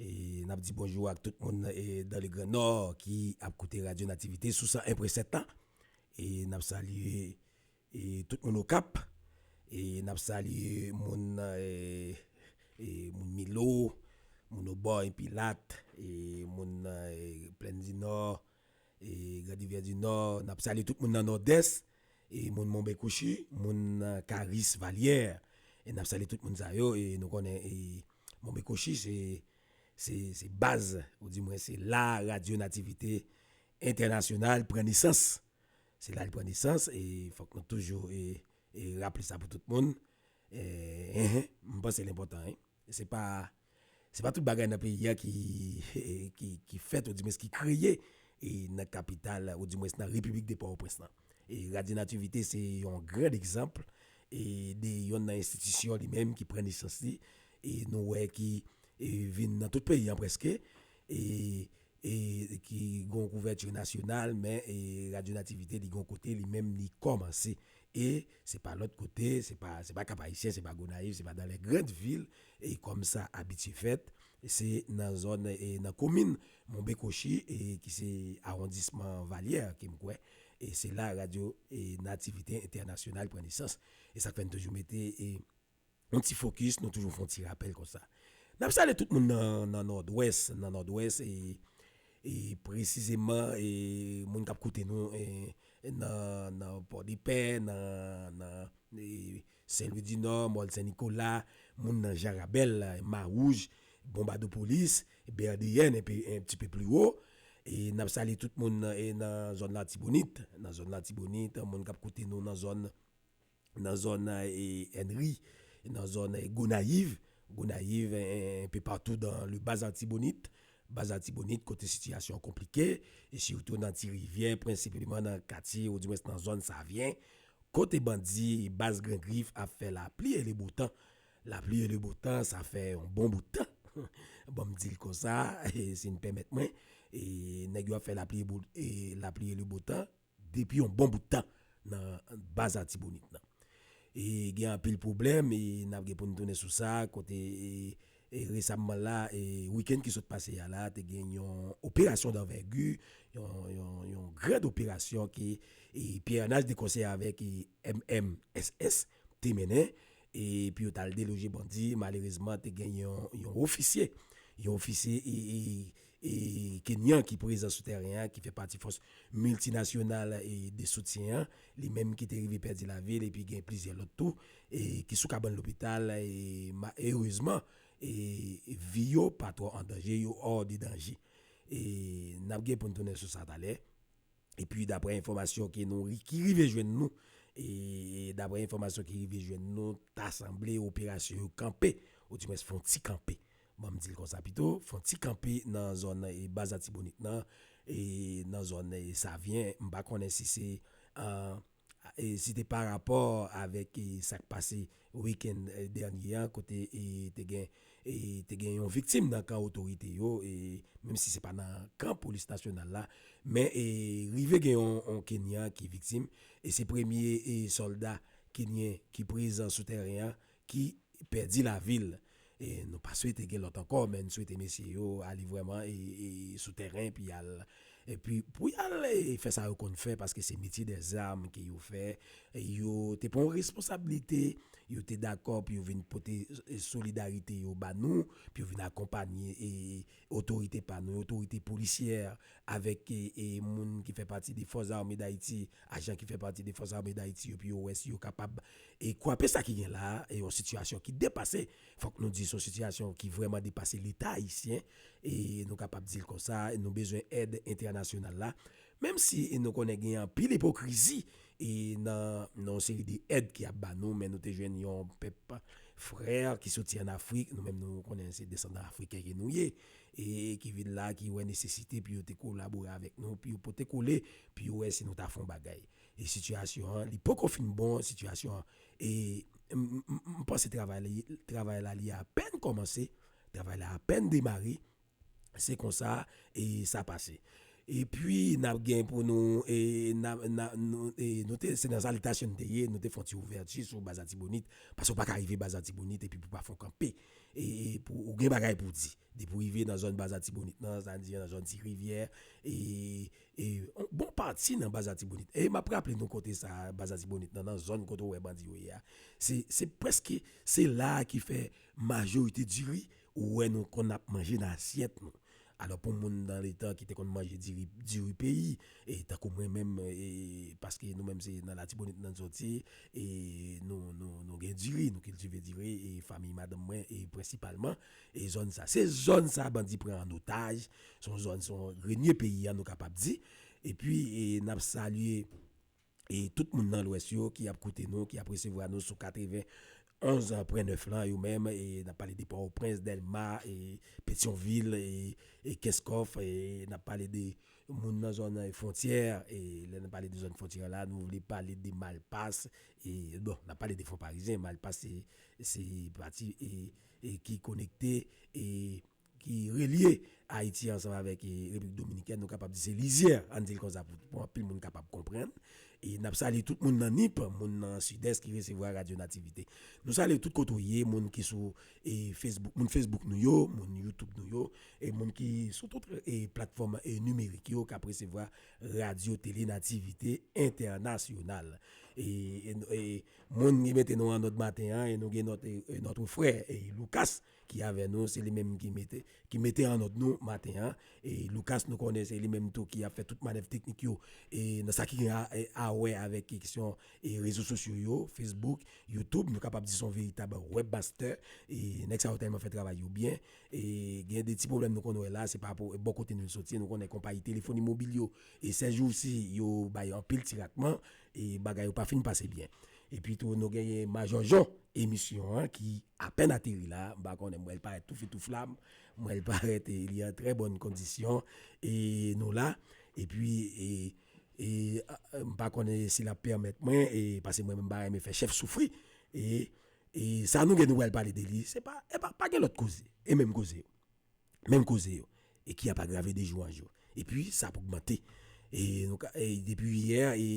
N ap di bonjou ak tout moun dan le gran nò ki ap koute radyo nativite sou 101 pwen 7 la e n ap salye tout moun okap e n ap salye moun moun milo moun obò yon pilat moun plèndinò E grand rivière du nord nap salye tout moun nan nordès e moun monbekouchi moun karis valier e nap salye tout moun sa yo e nou konnen e monbekouchi se se se baz ou di mwen se la radio nativite entènasyonal pran nesans se la li pran nesans e fòk nou toujou e e raple sa pou tout moun e enh mpanse l enpòtan e se pa Se pa tout bagay nan peyi a ki fèt oudimwens ki kreye nan kapital oudimwens nan repiblik de Pòtoprens lan. Radyo Nativite se yon gran egzanp de yonn nan enstitisyon li menm ki pran nesans li e nou wè ki vin nan tout peyi an prèske. e ki gen yon kouvèti nasyonal men e radyo nativite li gen yon kote li menm li kòmanse e se pa lòt kote se pa se pa kapayisyen se pa gonayiv se pa dan lè grand vil e kòm sa abitye fèt se nan zòn e nan komin monbekochi e ki se awondisman valyè ke m kwè e se la radyo e nativite entènasyonal pran nesans e sa k fè n toujou mete e. yon ti fokis, nou toujou fè yon ti rapèl konsa. N ap salye tout moun nan Nòdwès, nan Nòdwès e presizeman moun k ap koute nou nan Pòdepè, nan Senlwidinò, Mòl Sen Nikola, moun nan Jarabèl, Mawouj, Bonbadopolis, Bèdeyèn, enpe en ti pe pli wo. E n ap salye tout moun nan zòn Latibonit, nan zòn Latibonit, moun k ap koute nou nan zòn nan zòn Ennery, nan zòn Gonayiv, Gonayiv enpe patou dan le Bas Artibonite, Bas Artibonite kote sitiyasyon an konplike, e sitou nan Ti Rivyè, prensipleman nan katye ou di mwens nan zòn Savyen, kote bandi Bas Gran Grif ap fè lapli e le bo tan. Lapli e le bo tan sa fè yon bon bout tan, ban m di l konsa, si n pèmèt mwen, nèg yo ap fè lapli e le bo tan. Depi yon bon bout tan nan baz Atibonit nan. E gen anpil pwoblèm e n ap gen pou n tounen sou sa kote resamman la, wikenn ki sot pase a la te gen yon operasyon danvègi, yon grand operasyon ke Pierre Arnal de konsè avèk MMSS te mennen e pou yo t al deloje bandi. Malerezman te gen yon ofisye, yon ofisye e. E Kenyan ki prezan sou tèren an, ki fè pati fòs miltinasyonal de soutyen an, li menm ki te rive pèdi lavi l epi gen plizyè lòt tou ki sou kabann lopital erezman vi yo pa twò an danje, yo hors de danger. E n ap gen pou n tounen sou sa talè. Epi daprè enfòmasyon ke nou ki rive jwenn nou, e daprè enfòmasyon ki rive jwenn nou ta sanble operasyon yo kanpe, ou dimwens fon ti kanpe Banm dil konsa pito, fon ti kanpe nan zòn baz Atibonit nan, nan zòn Savyen, m pa konnen si se si te pa rapò avèk sak pase wikenn dènye an kote te gen te gen yon viktim nan kan otorite yo, menm si se pa nan kan polis nasyonal la, men rive gen yon kenyan ki viktim e se premye sòlda kenyen ki prezan sou tèren an ki pèdi lavi l. E nou pa swete gen lòt ankò men n swete mesye yo ale vrèman sou tèren epi y al epi pou y al fè sa yo konn fè paske se metye dè zam ke yo fè. Yo te pran yon responsablite, yo te dakò pou yo vin pote solidarite yo ba nou, pou yo vin akonpanye otorite pa nou, otorite polisyè avèk moun ki fè pati de Fòs Zame Dayiti. Ajan ki fè pati de Fòs Ame Dayiti yo pou yo wè si yo kapab kwape sa ki gen la a, yon sitiyasyon ki depase, fòk nou di se yon sitiyasyon ki vrèman depase Leta ayisyen, nou kapab di l konsa, nou bezwen èd entènasyonal la, menm si nou konnen gen anpil ipokrizi nan yon seri de èd ki ap ba nou, men nou te jwenn yon pèp frè ki soti an Afrik, nou menm nou konnen se desandan Afriken ke nou ye, ki vin la, ki wè nesesite pou yo te kolabore avèk nou, pou yo pote kole Pu wè si nou ta fon bagay. E sitiyasyon an li poko fin bon sitiyasyon an e m panse travay li travay la li apèn kòmanse travay la apèn demare se konsa e sa pase e pi nap gen pou nou e na na nou e nou te se nan salitasyon nou te ye nou te fon ti ouvèti sou baz atibonit pase ou pa ka rive baz atibonit epi pou pa fon kanpe e pou ou gen bagay pou di depi ou rive nan zòn baz atibonit nan sa n di an nan zòn ti rivyè e E yon bon pati nan baz Atibonit, e map raple nou kote sa a, baz Atibonit nan, nan zòn kote ou wè bandi yo ye a, se, se prèske, se la a ki fè majorite diri ou wè nou konn ap manje nan asyèt nou. Alò pou moun nan letan ki te konn manje diri, diri peyi, e tankou mwen menm, e paske nou menm se nan Latibonit nan soti, e nou, nou, nou gen diri, nou kiltive diri, e fanmiy madanm mwen, e prensipalman, E zòn sa, se zòn sa bandi pran an otaj, se yon zòn, se yon grenie peyi an nou kapab di. E pi n ap salye e tout moun nan lwès yo ki ap koute nou, ki ap resevwa nou sou 91 pwen 9 lan yo menm, e n ap pale de Pòtoprens, Dèlma, e Petyonvil, e Kenskòf, e n ap pale de moun nan zòn fwontyè, e lè n ap pale de zòn fwontyè la nou vle pale de Malpas, e bon n ap pale de Fonparizyen, Malpas se pati e. ki konekte e ki relye Ayiti ansanm avèk Repiblik Dominikèn, nou kapab di se lizyè, ann di l konsa pou anpil moun kapab konprann. E n ap salye tout moun nan Nip, moun nan Sidès ki resevwa Radyo Nativite. Nou salye w tout kote w ye, moun ki sou Facebook, moun Facebook nou yo, moun YouTube nou yo, e moun ki sou tout platfòm nimerik yo k ap resevwa Radyo Tele Nativite Entènasyonal. Moun ki mete nou an nòt maten an e nou gen nòt notre frè Lucas ki avè nou se li menm ki mete ki mete an nòt nou maten an e Lucas nou konnen se li menm tou ki ap fè tout manèv teknik yo e nan sa ki gen a wè avèk kesyon e rezo sosyo yo Facebook YouTube nou kapab di son veritab web master e nèg sa yo tèlman fè travay yo byen e gen de ti pwoblèm nou konn wè la se pa pou bò kote nou soti nou konnen konpayi telefoni mobil yo e sèjousi yo bay anpil ti ratman E bagay yo pa fin pase byen. Epi tou nou genyen Majò Jon, emisyon an ki apèn ateri la, m pa konnen m wè l parèt tou fitou flam, m wè l parèt e li an trè bòn kondisyon e nou la epi e e m pa konnen si l ap pèmèt mwen e pase mwen menm m pa renmen fè chèf soufri e e sa nou gen nou pral pale de li se pa e pa pa gen lòt koze e menm koze yo. menm koze yo e ki ap agrave de jou an jou epi sa ap ogmante e nou ka e depi yè e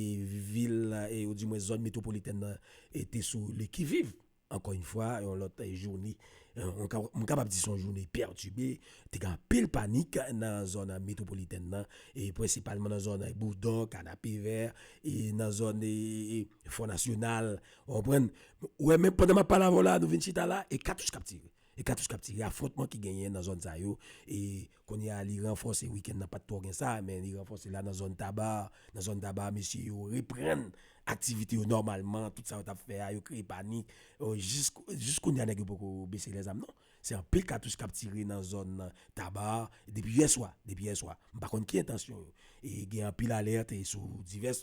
vil e ou di mwen zòn metwopolitèn nan e te sou le ki viv ankò yn fwa yon lòt joune m kapab di son joune pètibe te gen anpil panik nan zòn metwopolitèn nan e prensipalman nan zòn boudon kanapevè e nan zòn e fò nasyonal ou konprann ou wè menm pandan map pale avèw la nou vin chita la e katouch kap tire E katouch kap tire afwontman ki genyen nan zòn sa yo e kounye a li ranfòse wikenn nan pat twò gen sa men li ranfòse la nan zòn taba nan zòn taba mesye yo reprann aktivite yo nòmalman tout sa yo tap fè a yo kreye panik jis kounye a nèg yo poko bese lèzam non se anpil katouch kap tire nan zòn taba depi yè swa depi yè swa m pa konn ki entansyon yo e gen anpil alèt sou divès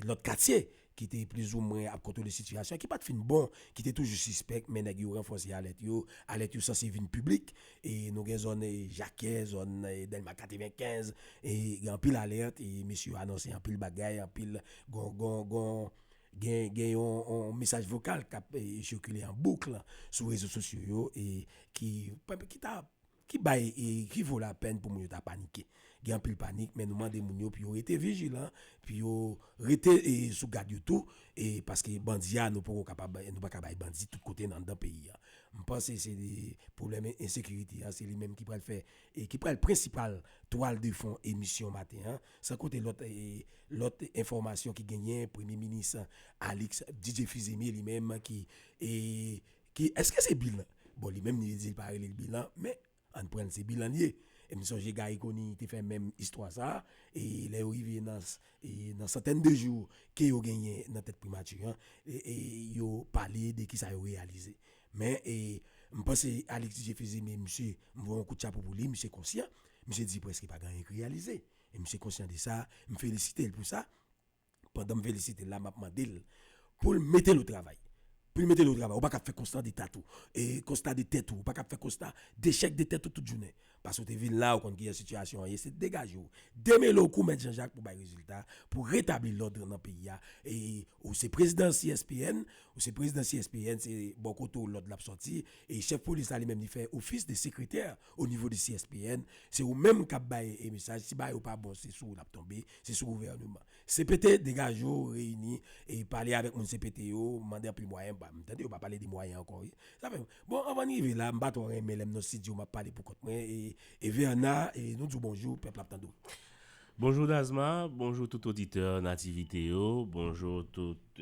lòt katye ki te plizoumwen ap kontwole sitiyasyon an, ki pa t fin bon, ki te toujou sispèk, men nèg yo ranfòse alèt yo, alèt yo sanse vin piblik, e nou gen zòn Jakè, zòn Dèlma 95, e gen anpil alèt, e mesye yo anonse anpil bagay, anpil, gen yon mesaj vokal k ap sikile an boukl sou rezo sosyo yo, e ki ta. Ki bay e ki vo lapèn pou moun yo ta panike. Gen anpil panik men nou mande moun yo pou yo rete vijilan, pou yo rete e sou gad yo tou e paske bandi a nou poko kapab nou pa ka bay bandi tout kote nan anndan peyi a. M panse se li pwoblèm ensekirite a se li menm ki pral fè e ki pral prensipal twal de fon emisyon maten an san kote lòt e lòt enfòmasyon ki genyen premye minis Alix Didier Fils-Aimé li menm ki e Ki eske se bilan? Bon li menm li di li pa rele l bilan men ann pran l se bilan l ye. E m sonje Gary Conille te fè menm istwa sa a e lè yo rive nan nan santèn de jou ke yo genyen nan tèt primati an e yo pale de kisa yo reyalize. Men e m panse Alix Didier Fils-Aimé misye m voye yon kout chapo pou li misye konsyan, misye di prèske pa gen anyen ki reyalize e misye konsyan de sa m felisite l pou sa. pandan m felisite l la map mande l pou l mete l o travay pou l mete l o travay ou pa ka ap fè konsta de tat ou e konsta de tèt ou ou pa ka ap fè konsta dechèk de tèt ou tout jounen paske ou te vin la ou konn kijan sitiyasyon an ye se degaje w demele w kou mèt Jan Jak pou bay rezilta pou w retabli lòd nan peyi a e ou se prezidan CSPN ou se prezidan CSPN se bò kote w lòd la ap sòti e chèf polis la li menm li fè ofis de sekretè O nivo de CSPN, se ou menm kap bay e mesaj, si bagay ou pa bon se sou ou lap tonbe, se sou gouvèneman. Cpt, degaje w, reyini e pale avèk moun cpt yo, mande anpil mwayen, m tande yo pa pale de mwayen ankò wi. Sa fè m, bon anvan n rive la, m pa twò renmen lè m nan stidyo map pale pou kont mwen e Verna e nou di w bonjou, pèp la ap tande w. Bonjou Dasma, bonjou tout oditè Nativite yo, bonjou tout.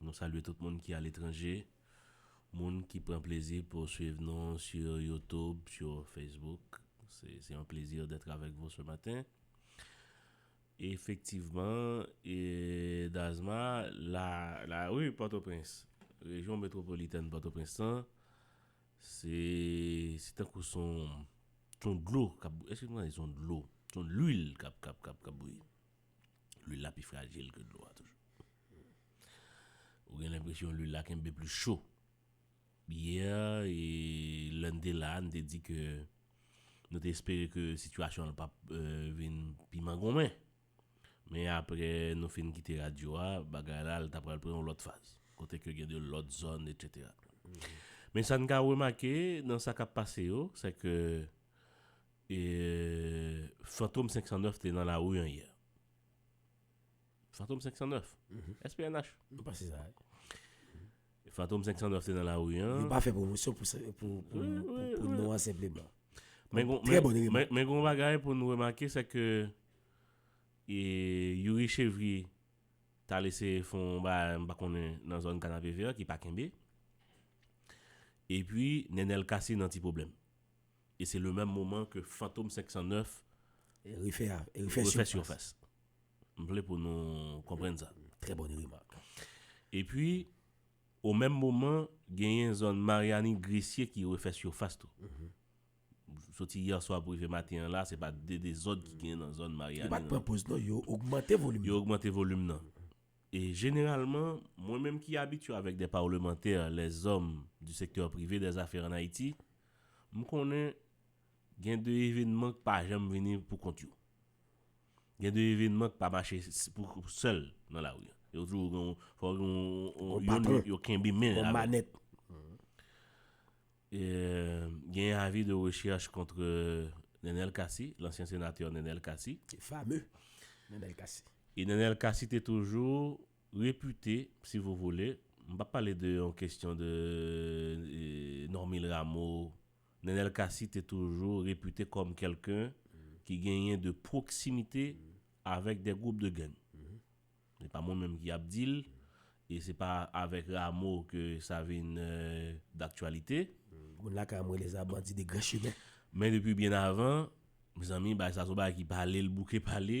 Nou salye tout moun ki aletranje, moun ki pran plezi pou swiv nou sur YouTube, sur Facebook. Se un plaisir d'être avec vous ce matin. Efektivman, Dazma, la rue Port-au-Prince, rejyon metropolitèn Port-au-Prince lan, se tankou son dlo, èske nou ka di son dlo, son lwil k'ap bouyi. Lwil la pi frajil ke dlo a toujou. Ou gen lenpresyon lwil la kenbe plis cho. Yè, lè n te la, n te di ke nou te espere ke sitiyasyon an pap vin pi mangonmen. Men apre nou fin kite radyo a, bagay la ta pral pran yon lòt faz. Kote ke gen de lòt zòn etsetera. Men sa n ka remake nan sa k ap pase yo, se ke E fantom 509 te nan lari an yè? Fantom 509? SPNH? Mwen pa se sa. Fantom 509 te nan lari an? Yo pa fè pwomosyon pou non an senpleman. Men goun bagay pou nou remake se ke e Youri Chevrier ta lese fon bagay m pa konnen nan zòn Kanapevè ki pa kenbe. E pi Nenel Cassy nan ti pwoblèm. E se le menm moman ke Fantom 509 refè surface. M vle pou nou konprann sa. Trè bonne remarque. E pi, o menm moman, genyen zòn Mariani Gresye ki refè surface tou. Soti yè swa pou rive maten an la, se pa de dezòd ki genyen nan zòn Mariani. Yo pa pran poz non, yo ogmante volim nan. Yo ogmante volim nan. E jeneralman, mwen menm ki abitye avèk de parlemantè, lèzòm di sektè prive dè zafè an Ayiti, M konnen gen de evenman k pa janm vini pou kont yo. Gen de evenman k pa mache pou sèl nan lari. Yo toujou gen yon, fò gen yon patwon, yo kenbe men avèl. Yon manèt. Gen yon avi de rechèch kontre Nenel Cassy, lansyen senatè Nenel Cassy. Fameux Nenel Cassy. E Nenel Cassy te toujou Repute si vous voulez, m pap pale de yon kestyon de Normil Ramo, Nenel Cassy te toujou repute kom kelken ki genyen de proximite avek de group de gang. Se pa mwen menm ki ap di l e se pa avek Ramo ke sa vinn daktyalite. Moun lakay mwen rele sa bandi de gran chimen. Men depi byen avan, mezanmi bagay sa son bagay ki pale l bouke pale.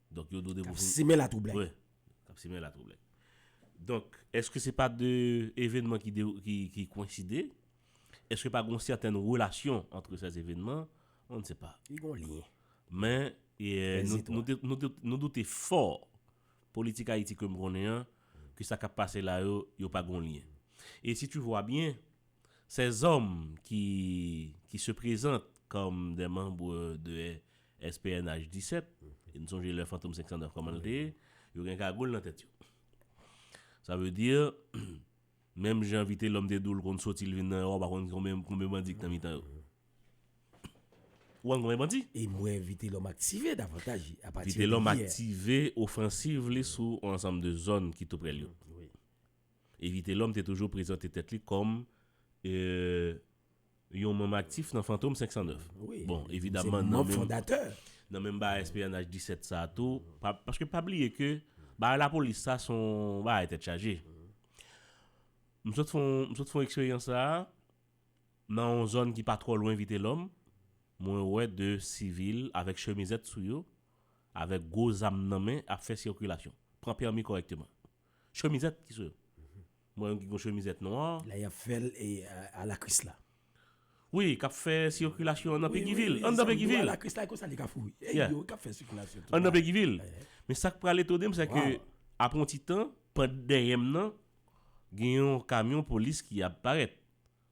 Donk yo dwe. K ap simen latwoublay. Wi, k ap simen latwoublay. Donk, èske se pa de evènman ki kowenside? Èske pa gen yon sètèn relasyon antre sè evènman? On ne sait pas. Li gen yon lyen. Men, nou doute fò, politik Ayiti ke m konnen an, ke sa k ap pase la yo, yo pa gen yon lyen. E si tu vwa byen, sèzòm ki se prezante kòm de manbre de SPNH 17, e n sonje lè Fantom 509 kòman l te ye, yo gen kagoul nan tèt yo. Sa vle di, menm jan Vitelòm te di w l konn soti l vin nan Ewòp a konn gen konbyen bandi ki nan mitan yo. Ou konn konbyen bandi? E m wè Vitelòm aktive davantaj a pati de yè. Vitelòm aktive ofansiv li sou on ansanm de zòn ki toupre l yo. E Vitelòm te toujou prezante tèt li kòm. Yon manm aktif nan Fantom 509. Bon, evidamman nan menm nan menm bagay espyonaj 17 sa a tou, paske pa bliye ke bagay lapolis sa se yon bagay tèt chaje. M sot fè yon, m sot fè yon eksperyans sa a nan yon zòn ki pa twò lwen Vitelòm, mwen wè 2 sivil avèk chemizèt sou yo, avèk gwo zam nan men ap fè sikilasyon, pran pèmi kòrèkteman. Chemizèt ki sou yo. M wè yon ki gen yon chemizèt nwa. La y ap fè l a la Krisla. Wi, k ap fè sikilasyon an nan Pegivil. An nan Pegivil. A la Krisla e konsa li ka foure. E yo k ap fè sikilasyon tou. An nan Pegivil. Men sa k pral etone m se ke apre yon ti tan, pant dèyè m nan, gen yon kamyon polis ki ap parèt.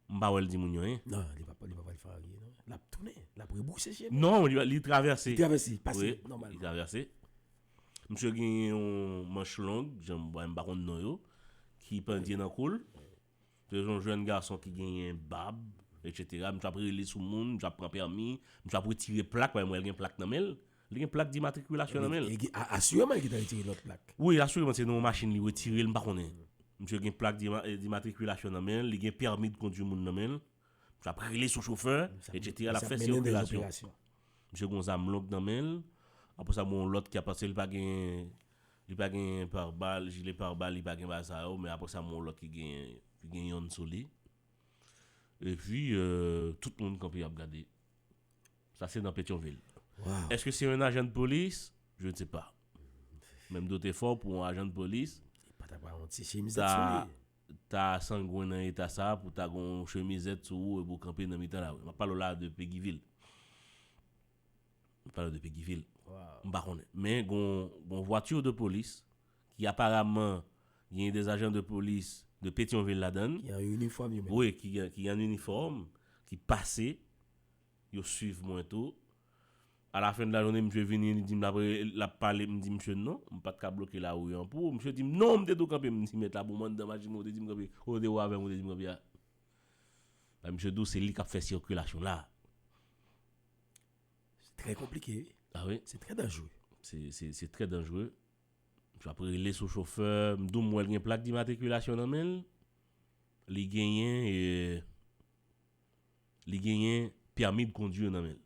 M pa wè l di moun yo anyen. Non, li pap li pap al fè anyen non. L ap tounen, l ap rebrouse chemen. Non, li li travèse. Li travèse, pase wi, nòmalman. Li travèse. Msye gen yon manch long, jan m wè m pa konn non yo, ki pandye nan kou l. Se yon jèn gason ki genyen bab, etsetera. Msye ap rele sou moun, msye ap pran pèmi, msye ap retire plak, paske m wè l gen plak nan men l. Li gen plak dimatrikilasyon nan men l. Asireman li gen tan retire lòt plak. Wi, asireman se nan yon machin li retire l, m pa konnen. Misye gen plak dimatrikilasyon nan men l, li gen pèmi de kondwi moun nan men l. Misye ap rele sou chofè, etsetera, l ap fè sikilasyon. Misye gen yon zam long nan men l. Apre sa, gen yon lòt ki ap pase, li pa gen, li pa gen parbal, jile parbal, li pa gen bagay sa yo, men apre sa, gen yon lòt ki genyen, ki gen yonn sou li. Epi, tout moun kanpe ap gade. Sa se nan Petyonvil. Eske se yon ajan dpolis? Je ne sais pas. Men m doute fò pou yon ajan dpolis ta ta sangwen nan eta sa a pou ta gen yon chemizèt sou ou epi ou kanpe nan mitan lari. M ap pale w la a de Peggyvil. M ap pale w de Peggyvil. M pa konnen. Men gen yon vwati de polis ki aparaman gen de ajan de polis de Petyonvil ladan l. Ki an inifòm yo menm. Wi, ki an inifòm, ki pase. Yo swiv mwen tou. A la fen de la jounen misye vini li di m l ap l ap pale m di misye non, m pa t ka bloke lari an pou ou. Misye di m non m te di w kanpe m di mèt la pou m anndan machin mwen ou te di m kanpe kote w te wè avè m ou te di m kanpe a. Epi misye di w se li k ap fè sikilasyon la a. Se trè konplike wi. A wi. Se trè danjre. Se se se trè danjre. Misye ap rele sou chofè m di w m wè l gen plak dimatrikilasyon nan men l. Li genyen e. Li genyen permis de conduire nan menl.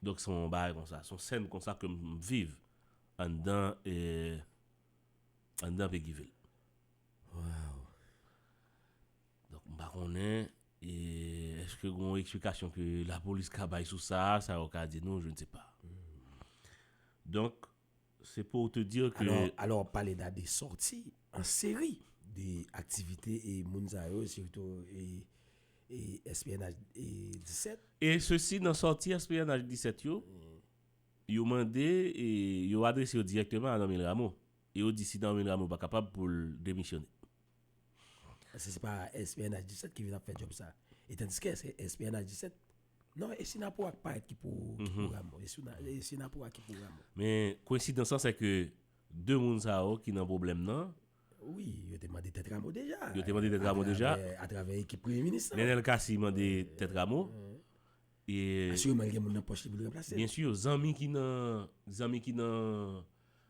Donk se yon bagay konsa, se yon scène konsa ke m viv anndan anndan Peguivil. Waw. Donk m pa konnen eske gen yon eksplikasyon ke la polis ka bay sou sa, sa yo ka di nou, je ne sais pas. Donk Se pou w te dire ke. Alò wap pale da de sòti an seri de aktivite e moun sa yo sitou e SPNH 17. E sesi nan sòti SPNH 17 yo, yo mande e yo adrese yo dirèkteman a Normil Rameau. E yo di si Normil Rameau pa kapab pou l demisyone. Eske se pa SPNH 17 ki vin ap fè djòb sa? Etandiske SPNH 17. Non, e Sinapou ak Payèt ki pou Ramo. E Sinapou a ki pou Ramo. Men, kwensidans lan se ke 2 moun sa yo ki nan pwoblèm nan. Wi, yo te mande tèt Ramo deja. Yo te mande tèt Ramo deja. A travè ekip premye minis lan. Nenel Cassy mande tèt Ramo. Asireman li gen moun nan pòch li pou l ranplase l. Byensi, zanmi ki nan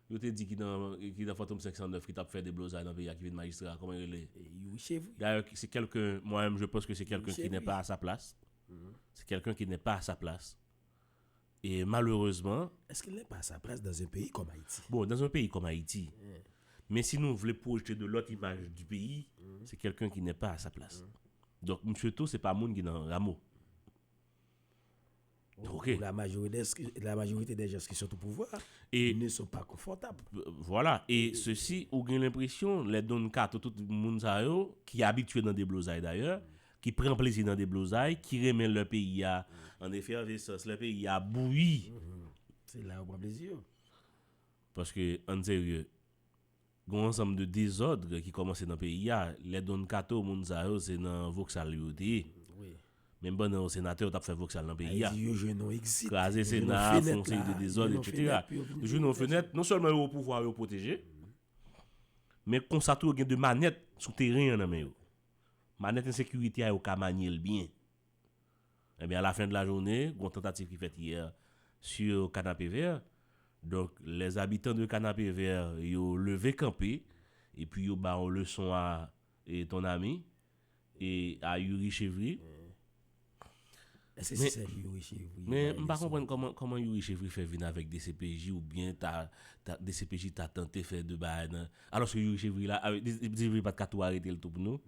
Yo te di ki nan ki nan fantom 509 ki tap fè deblozay nan peyi a ki vin majistra a koman li rele Youri Chevry. Dayè se kèlken mwa menm je pans ke se kèlken ki nè pa a sa plas se kèlken ki nè pa a sa plas e malerezman. Eske l nè pa a sa plas dans un peyi kòm Ayiti? Bon dans un peyi kòm Ayiti men si nou vle pwojte de lòt imaj di peyi se kèlken ki nè pa a sa plas donk misye tou se pa moun ki nan ramo. Ok. La majorite dè jans ki sot ou pouvwa ne son pa konfòtab. Vwala. E sesi ou gen lenpresyon lè Don Kato tout moun sa yo ki abitye nan deblozay dayè, ki pran plezi nan deblozay, ki renmen lè peyi a an efèvesans, lè peyi a bouyi. Se la yo pran plezi yo. Paske ann serye. Gon ansanm de dezodre ki komanse nan peyi a, lè Don Kato moun sa yo se nan voksal yo te ye. Menm pandan yo senatè yo tap fè voksal nan peyi a. Kraze sena, fon seri de dezod etc. Yo jwenn yon fenèt, non selman yo o pouvwa yo pwoteje, men konsa tou yo gen de manèt sou teren an nan men yo. Manèt ensekirite a yo ka manye l byen. Ebyen a la fin de la journée, gon tentative ki fèt yè sur Canapé-Vert, donk les habitants de Canapé-Vert yo leve kanpe epi yo ba yon leson a ton ami e a Youri Chevry. Eske se sèl pou Youri Chevry yo bay leson? Men m pa konprann kòman kòman Youri Chevry fè vin avèk dcpj oubyen ta dcpj ta tante fè de bagay nan Alòske Youri Chevry la, a di Youri Chevry pat ka tou arete l tou pou nou?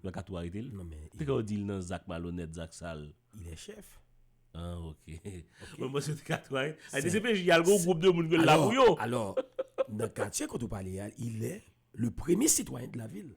Yo pa ka tou arete l? Non men. Pou kisa yo di l nan zak malonèt, zak sal? Il est chef. Ah ok. Mwen panse yo te ka tou arete. A di cpj al gen yon gwoup de moun ki la pou yo. Alò, nan katye kote ou pale a, il est le premier citoyen de la ville.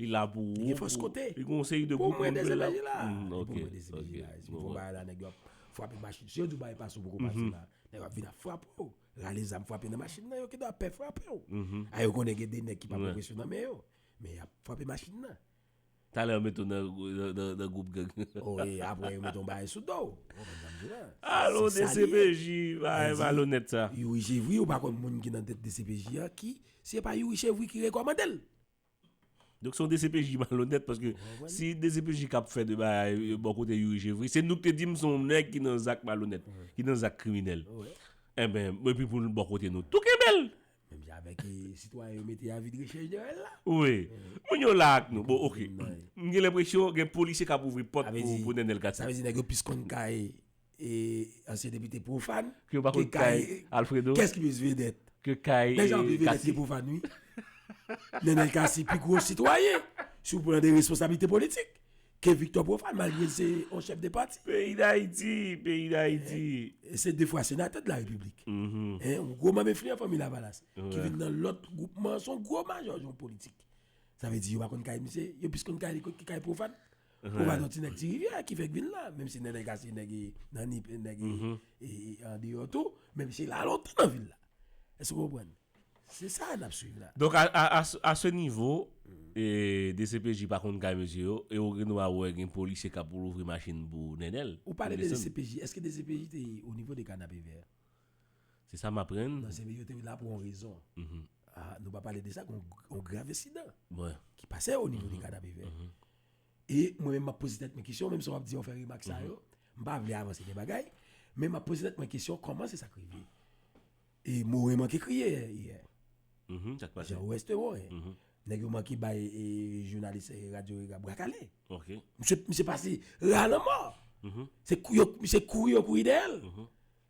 Li la pou ou. Li gen fòs kote. Li gen yon seri de group moun ki la. Pou mwen 2 CPJ la. Li pou mwen 2 CPJ la. Si pou bay la nèg yo ap frape machin. Si yo di w bay pas ou poko pase la. Nèg yo ap vin ap frape w. Rale zam frape nan machin nan. Yo ki do ap pè frape w. A yo konnen gen 2 nèg ki pa pran presyon nan men yo. Men y ap frape machin nan. Talè yo mete w nan group gang. O e apre yo mete yon bagay sou do w. Ou konprann sa m di la. A lon 2 CPJ bagay malonèt sa. Youri Chevri ou pa konn moun ki nan tèt 2 CPJ a ki. Se pa Youri Chevri ki rekòmande l. Donk se yon dcpj ki malonèt paske si dcpj kap fè de bagay bò kote Youri Chevry se nou ki te di m se yon nèg ki nan zak malonèt, ki nan zak kriminèl. Enben, epi pou l bò kote nou tou kenbe l! Menm jan avèk sitwayen yo mete avi de rechèch dèyè l la. Wi. Moun yo la ak nou. Bon ok. M gen lenpresyon gen polisye k ap ouvri pòt pou Nenel Cathie. Sa vle di nèg yo plis konn kay E ansyen depite pwofàn. Ke yo pa konn kay Alfredo. Kès ki plis vedèt? Ke kay Kasi. Lè jan pi vedèt ki pwofàn wi. Nenel Kasi pi gwo sitwayen sou plan de responsablite politik ke Viktò Pwofàn malgre l se yon chèf de pati. Peyi Dayiti! Peyi Dayiti! E se 2 fwa senatè de la Repiblik. Yon gwo manm enfliyan Fanmi Lavalas ki vin nan lòt gwoupman. S on gwo majò yon politik. Sa vle di yo pa konn kay misye. Yo plis konn kay li ki kay pwofàn. Ou pa nan ti nèg ti rivyè ki fèk vin la, menm si nènè ka se nèg nan nip e nèg e andeyò tou, men misye la lontan nan vil la. Èske ou konprann? Se sa n ap suiv la. Donk a se nivo, dcpj pa konn kay mesye yo e ou gen dwa wè gen polisye k ap louvri machin pou Nenel. Ou pale de dcpj, èske dcpj te o nivo de Kanapevè? Se sa m aprann. Nan zile yo te la pou yon rezon. Nou pa pale de sa gen yon grav ensidan ki pase o nivo de Kanapevè. E mwen menm m ap poze tèt mwen kesyon, menm si w ap di yo fè remak sa yo, m pa vle avanse de bagay, men m ap poze tèt mwen kesyon kòman se sa k rive. E Moren manke kriye yè. Sa k pase? Jan Weste Moren. Nèg yo manke bay jounalis radyo Rega bra kale. Misye pase ra lanmò. Se kouri yo kouri dèyè l.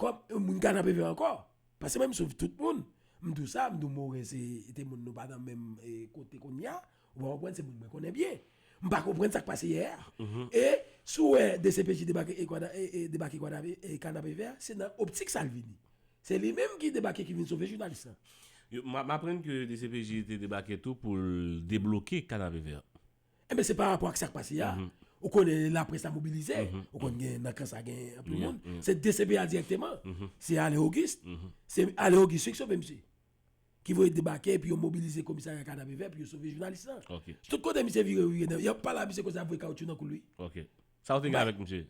Kòm yon moun ka nan PV ankò, paske mwen m swiv tout moun, m di w sa, m di w Moren se te moun nou pa nan menm kote kounye a, ou pa konprann se moun mwen konnen byen. M pa konprann sa k pase yè a. E si w wè dcpj debake ka nan PV a, se nan optik sa l vini. Se li menm ki debake ki vin sove jounalis lan. M aprann ke dcpj te debake tou pou l debloke ka nan PV a. Enben eh se pa rapò ak sa k pase a, mhm. ou konnen la presse la mobilize, mhm. ou konnen gen nan kan sa gen anpil moun, se DCPA direkteman, mhm. se Ale Auguste, se Ale Auguste ki sove msye. Ki voye debake, pi yo mobilize komisarya kada beve, pi yo sove jounalis la. Tout kote msye vire, yon pala msye kosa vwe kaoutchou nan kou lwi. Sa ou te gen avèk msye?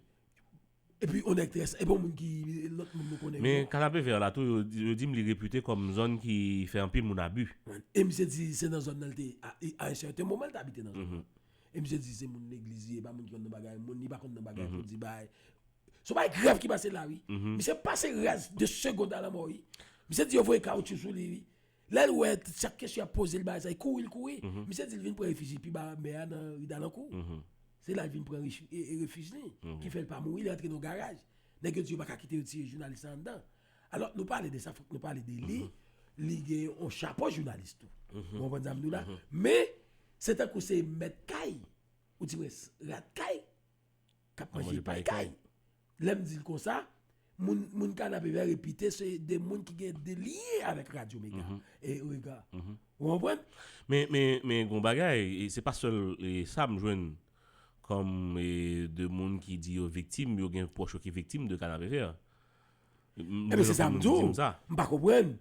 Epi yon nèg trè sa, epi yon moun ki lòt moun nou konnen yo. Men Kanapevè la tou yo di m li repute kòm zòn ki fè anpil moun abi. E misye di se nan zòn nan li te a yon sèten moman li te abite nan zòn nan. E misye di se moun legliz li ye, e pa moun ki konn nan bagay, moun li pa konn nan bagay pou di bagay. Son bagay grav ki pase la wi. Misye pase raz 2 segond alanmò wi. Misye di yo voye kawoutchou sou li wi. Lè l wè chak kesyon y ap poze l bagay sa, li kouri l kouri. Misye di l vin pran refiji pi ba mè a nan ri Dalankou. Se la l vin pran refij li ki fè l pa mouri, li antre nan yon garaj. Nèg yo di yo pa ka kite yo tiye jounalis la anndan. Alò nou pale de sa fòk nou pale de li, li gen yon chapo jounalis tou. Ou konprann sa m di w la? Men se tankou se mèt kay, ou di mwen rat kay. kap manje pay kay. Lèm dil konsa, moun kanapé vè repite se de moun ki gen de lye avèk radyo mega. E ou ega. Ou anpwen? Men, men, men gon bagay, se pa sèl sa m jwenn kòm de moun ki di yo viktim, yo gen pwòch yo ki viktim de kanapé vè. Ebyen se sa m di w, m pa konprann.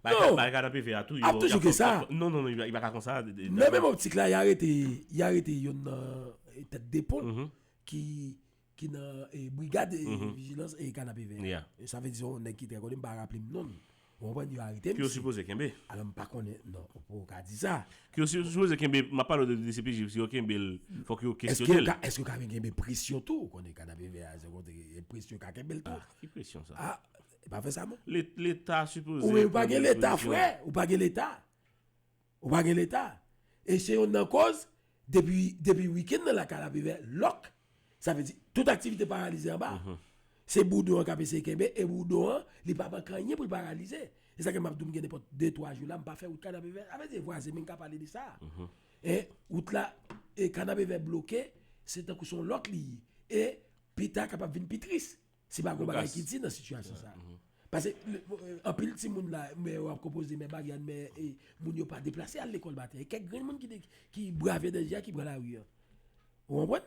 Non! Ap toujou gen sa. Nan menm optik la, y arete youn nan tèt de pon ki nan brigad vijilans e kanapevè. Sa vle di se yon nèg ki trè konnen, m pa raple m non l. Ou konprann? Yo arete l. Ki yo sipoze kenbe. Alò m pa konnen. Non, ou pa ka di sa. Ke yo sipoze kenbe, map pale de dcpj, si yo kenbe l fok yo kesyone l. Eske yo ka vin genbe presyon tou, ou konnen kanapevè a se yon kote gen presyon yo ka kenbe l tou. Ah ki presyon sa? Ah e pa fè sa non. Leta sipoze Ou menm ou pa gen leta frè, ou pa gen leta. Ou pa gen leta. E se yonn nan koz depi depi week-end nan la kanapevè lòk. Sa vle di, tout aktivite paralize anba. Se boudon an k ap eseye kenbe, e boudon an, li pa manke anyen pou l paralize. Se sa k fè m ap di w m gen nenpòt de twa jou la, m pa fè wout Kanapevè. Sa vle di vwazen mwen ka pale de sa. E wout la, e Kanapevè bloke, se tankou se yon lòk li ye. E pita kapab vin pi tris. Se pa gwo bagay ki di nan sitiyasyon sa. Pase, anpil ti moun la, mè yo ap konpoze, mè bagyan, mè moun yo pa deplase al lekòl maten. E kèk grenn moun ki brave danje a ki pran lari an. Ou anpwen?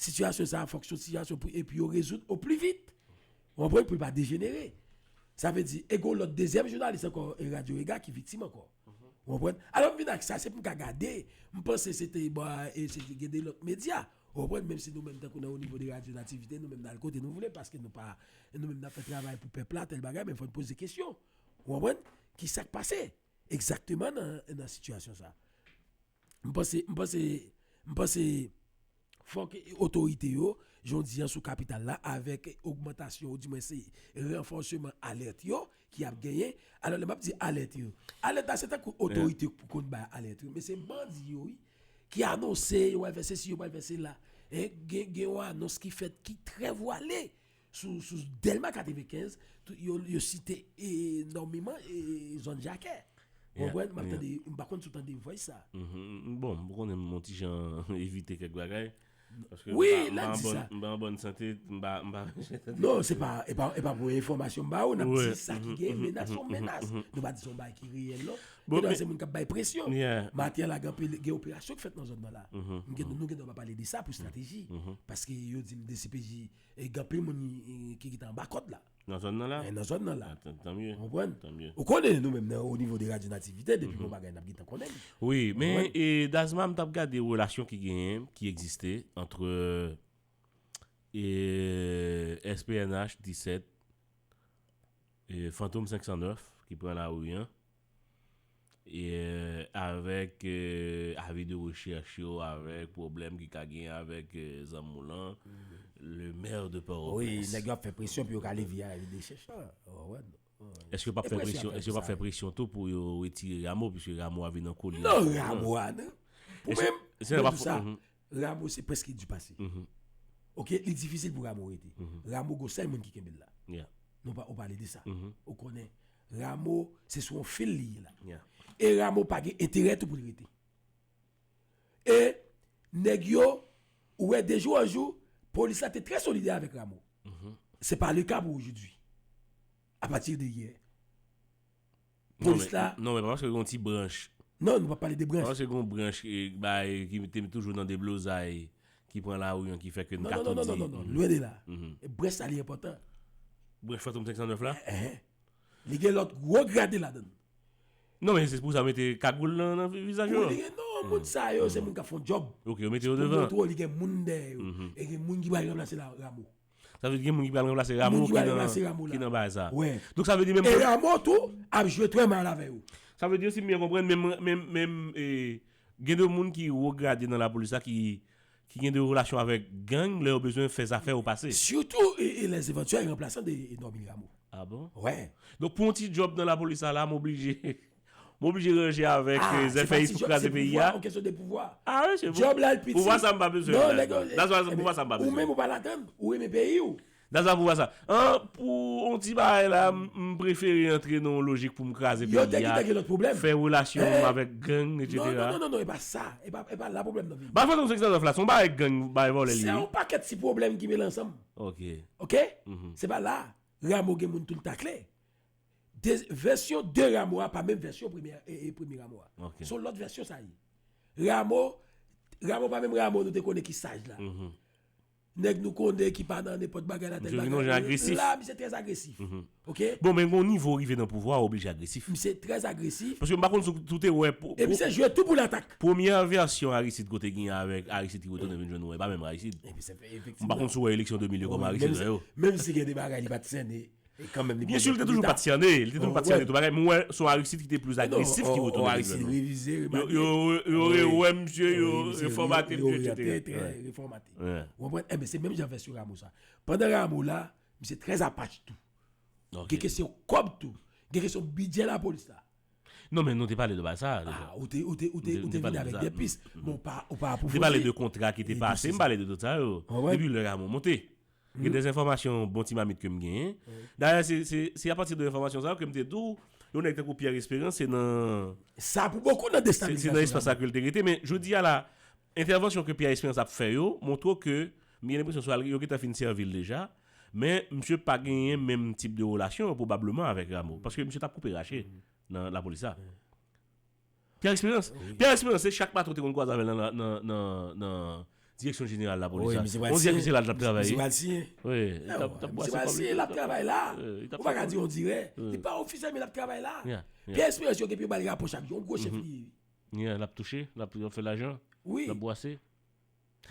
Sitiyasyon sa, fòk sou sitiyasyon pou epi yo rezoud ou pli vit. Ou anpwen? Pou pa dejenere. Sa vle di, e gwo lòt dezyèm jounalis ankò e radyo rega ki vitim ankò. Ou anpwen? Alò m vin ak sa, se pou m ka gade, m panse se te, e se te gede lòt medya. Ou konprann menm si nou menm tankou nan onivo de radyo nativite nou menm n al kote nou vle paske nou pa nou menm n ap fè travay pou pèp la tèl bagay men fò n poze kesyon ou konprann ki sa k pase egzakteman nan sitiyasyon sa m panse m panse m panse fòk otorite yo jan w di an sou kapital la avèk ogmantasyon ou di mwen se ranfòseman alèt yo ki ap genyen alò lè map di alèt yo alèt la se tankou otorite pou konn bay alèt yo men se bandi yo wi ki anonse yo pral fè sesi yo pral fè sela e gen gen yon anons ki fèt ki trè vwale sou sou Delma 95 tout yo yo site e nòmiman e zòn Jakè ou konprann map tande m pa konn si w tande vòys sa bon m konnen m on ti jan evite kèk bagay Wi la di sa. M pa an bòn sante, m pa an jè tande. Non, se pa, e pa pou enfòmasyon m ba ou, n ap di sa ki gen menas son menas. Nou pa di son bagay ki reyèl non. Gen dwa se moun k ap bay presyon. Maten la gen anpil, gen operasyon ki fèt nan zòn nan la. M gen, nou gen dwa pa pale de sa pou estrateji. Paske yo di m DCPJ, gen anpil moun ki git anba kòd la. Nan zòn nan la? Nan zòn nan la. Tan mye. Ou konprann? Tan mye. Ou konnen nou menm nan o nivo de radyo nativite depi bon bagay nap gentan konnen li. Wi, men Dazman m tap gade relasyon ki genyen, ki egziste antre SPNH 17 e Fantom 509 ki pran lari an. avèk avi de rechèch yo, avèk pwoblèm ki ka gen avèk zanmi w lan, le maire de Port au Prince. Wi, nèg yo ap fè presyon pou yo ka leve avi de rechèch la. Èske yo pap fè presyon tou pou yo retire Rameau, piske Rameau a vin an kole? Non, Rameau a nan. Pou mwen, mwen di sa, Ramo se preske du pase ok li difisil pou ramo rete ramo gon sèl moun ki kenbe l la nou pa ou pale de sa ou konnen ramo se sou yon fil li ye la e ramo pa gen enterè tou pou l rete e nèg yo ou wè dejou an jou polis la te trè solidè avèk ramo se pa le ka pou oujou di apati de yè Polis la. Non men paske gon ti branch. Non nou pa pale de branch. Paske gon branch bay ki te toujou nan deblozay ki pran lari an ki fè ke nou ka tou di. Non non non lwen de la. Branch sa li enpòtan. Branch fantom 509 la? Eeh. Li gen lòt gwo grade ladann. Non men se pou sa mete kagoul nan vizaj yo. Non moun sa yo se moun kap fon djòb. Ok yo mete yo devan. Li gen moun dèyè yo. E gen moun ki pral ranplase Rameau. Sa vle di gen moun ki pral ranplase Ramo ki nan baz la. E Ramo tou ap jwe trè mal avè yo. Sa vle di si m byen konprann menm gen de moun ki wo grade nan lapolis la ki gen de relasyon avèk gang lè yo bezwen fè zafè yo pase. Sitou lè se vantyè ranplasan de Normil Ramo. A bon? Wè. Donk pou yon ti djòb nan lapolis la Ramo blije. M oblije ranje avèk zèfè is pou kraze peyi ya. Ah se pa ti djòb se pa ti djòb se yon kesyon de pouvwa. Djòb la al piti. Pouvwa sa m pa bezwen l la. That's why pouvwa sa m pa bezwen l. Ou menm ou pa ladann. Ou renmen peyi w. That's why pouvwa sa. An pou yon ti bagay la m prefere antre nan yon lojik pou m kraze peyi ya. Yo te kite gen lòt pwoblèm. Fè relasyon m avèk gang etc. Non non non non e pa sa. E pa la pwoblèm nan. Ba fason 509 la se yon bagay gang bagay vòlè li ye. Se yon pakèt ti pwoblèm ki mele ansanm. Ok. Ok? Se pa la. Rameau gen moun tou l takle. De vèsyon de Rameau a pa menm vèsyon premye e premye Rameau a. Ok. Son lòt vèsyon sa ye. Rameau, Rameau pa menm Rameau nou te konnen ki saj la. Nèg nou konnen ki pa nan nenpòt bagay la tèt bagay. Misye vin yon jan agresif. La misye trè agresif. Ok. Bon men gon nivo ou rive nan pouvwa ou oblije agresif. Misye trè agresif. Paske m pa konn si w te wè. E misye jwe tou pou latak. Premyè vèsyon Aristide kote gen avèk Aristide ki retounen vin jwenn nou an e pa menm Aristide. Efektivman. M pa konn si w wè eleksyon 2002 kòman Aristide wè yo. Menm si gen de bagay li pa t sènen. Byensi li te toujou pat syane, li te toujou pat syane tout bagay, men ou wè son Aristide ki te plis agresif ki retounen nan gouvènman. Aristide revize, yo rewè misye, yo refòmate misye, etc. Yo reyante, yo te refòmate. Ou konprann? E men se menm jan vèsyon Rameau sa. Pandan Rameau la, misye trè apach tou. Gen kesyon kòb tou. Gen kesyon bidjè lapolis la. Non men nou te pale de bagay sa deja. A, ou te, ou te, ou te, ou te vini avèk de pis. Bon, ou pa, ou pa apwofondi. Ou te pale de kontra ki te pase, m pale de tout sa yo. Depi lè Rameau monte. Gen de enfòmasyon bon ti mamit ke m genyen. Dayè se apati de enfòmasyon sa yo ke m te di w yon nèg tankou Pierre Espérance se nan. Sa pou bokou nan destabilizasyon lame. Se nan espas sa ke l te rete men jodi a la entèvansyon ke Pierre Espérance ap fè yo montre w ke m gen lenpresyon swa yo gentan fin sèvi l deja men misye pa genyen menm tip de relasyon pwobableman avèk Rameau paske misye t ap koupe rache nan lapolis la. Pierre Espérance? Wi. Pierre Espérance se chak maten ou te konn kwaze avè l nan la nan nan nan direksyon jeneral lapolis Wi, la. misye pral On dirè siyen. se la l t ap travay Misye wi. pral siyen. Wi, li t ap li t ap Misye bwase pral kòb li siyen, l ap travay la. Wi, li t ap Ou pa fè ka kòb di li. on dirè. Wi. Li pa ofisyèl men l ap travay la. Ya, ya. Pierre Espérance yo gen pou yo ba li rapò chak jou. On gwo chèf li ye wi. Ya, l ap touche, l ap fè lajan, Wi. l ap bwase.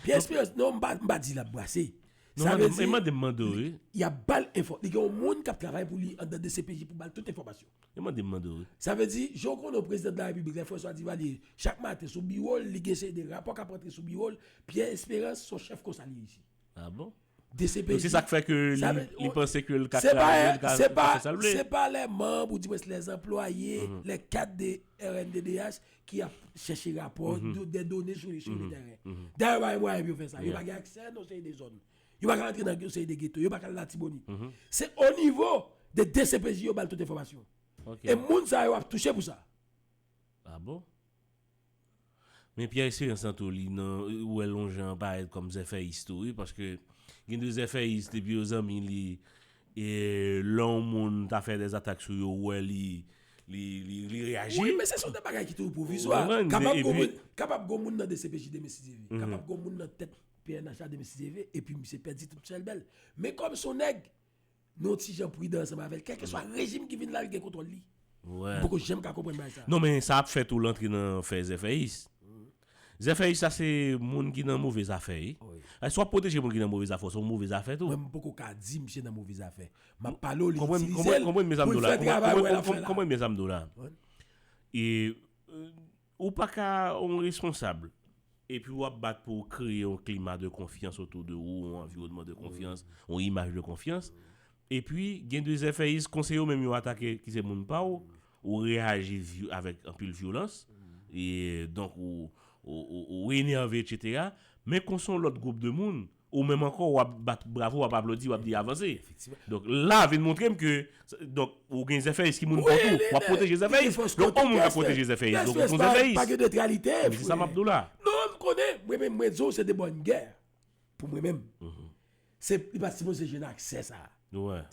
Pierre Esperance non mpa mpa di lap brase. Non sa mande vle m, di e mande m mande w wi. yap bal enfò li gen yon moun kap travay pou li anndan dcpj pou bal tout enfòmasyon. E mande m mande w wi. Sa vle di jan w konnen w prezidan de la repiblik lè François Duvalier chak maten sou biwo l li gen seri de rapò kap rantre sou biwo l Pierre Esperance son chèf konsa li reyisi. Ah bon? DCPJ. Donk se sa k fè ke li panse ke l ka travay, l ka fè sa l vle. Se pa lè manb ou dimwens lè zanplwaye, lè kad de rnddh ki ap chèche rapò, dè done sou li sou le tèren. Dayè yo pa gen mwayen pou yo fè sa. Yo pa gen aksè nan yon seri de zòn. Yo pa ka antre nan yon seri de geto. Yo pa ka al Latibonit. Se o nivo de DCPJ yo ba l tout enfòmasyon. E moun sa yo ap touche pou sa. A bon? Men Pierre Espérance an tou li nan ou wèl yon jan parèt kòm zèfèyis tou wi paske gen de zèfèyis depi yo zanmi li e lè yon moun ta fè dè zatak sou yo ou wè li li reyaji. Wi men se son de bagay ki toujou pwovizwa. Kapab gon moun nan dcpj demen si Dye ve. Kapab gon moun nan tèt pnh la demen si Dye ve epi misye pèdi tout chèlbè l. Men kòm son nèg Nou yon ti jan pridan ansanm avè l, kèlkeswa rejim ki vin la, li gen kontwòl li. M poko janm ka konprann bagay sa. Non men sa ap fè tou l antre nan fè zèfèyis. Zèfèyis sa se moun ki nan move zafè wi. Si w ap pwoteje moun ki nan move zafè, w se yon move zafè tou. Mwen m poko ka di misye nan move zafè. M ap pale w li itilize l pou l fè travay wè l ap fè la. Konprann byen sa m di w la. Ou pa ka yon responsab epi ou ap bat pou w kreye yon klima de konfyans otou de ou, yon anviwònman de konfyans, yon imaj de konfyans, epi gen de zèfèyis kon se yo menm yo atake ki se moun pa w, ou reyaji avèk anpil vyolans, donk ou enève, etsetera, men kon se yon lòt gwoup de moun, Ou menm ankò wap bat bravo wap aplodi wap di avanse. Donk la vin montrem ke donk ou gen zèfèyis ki moun paw tou wap pwoteje zèfèyis. Donk on moun kap pwoteje zèfèyis donk ou son zèfèyis. Men se sa map diw la. Non m konnen mwen menm mwen diw se de bòn gè pou mwen menm. Se li pat sipoze jwenn aksè sa.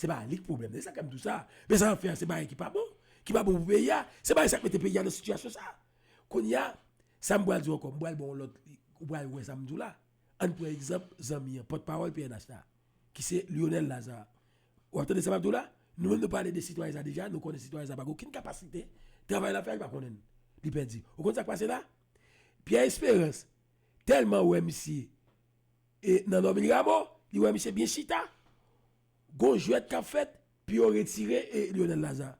Se pa li k pwoblèm nan e sa k fè m diw sa. Men sa yap fè a se bagay ki pa bon. Ki pa bon pou peyi a. Se bagay sa k mete peyi a nan sitiyasyon sa. Kounya sa m pral diw ankò m pral baw on lòt ou pral wè sa m diw la. Ann pran egzanp zanmi an, pòtpawòl pnh la, ki se Lyonel Lazarre. W ap tande sa m ap di w la? Nou menm nou pale de sitwayen sa deja, nou konnen sitwayen sa pa gen okenn kapasite, travay l ap fè a li pa konnen l, li pèdi. Ou konn sa k pase la? Pierre Espérance tèlman wè misye nan Normil Rameau, li wè misye byen chita. Gon jwèt kap fèt pou yo retire Lionel Lazar.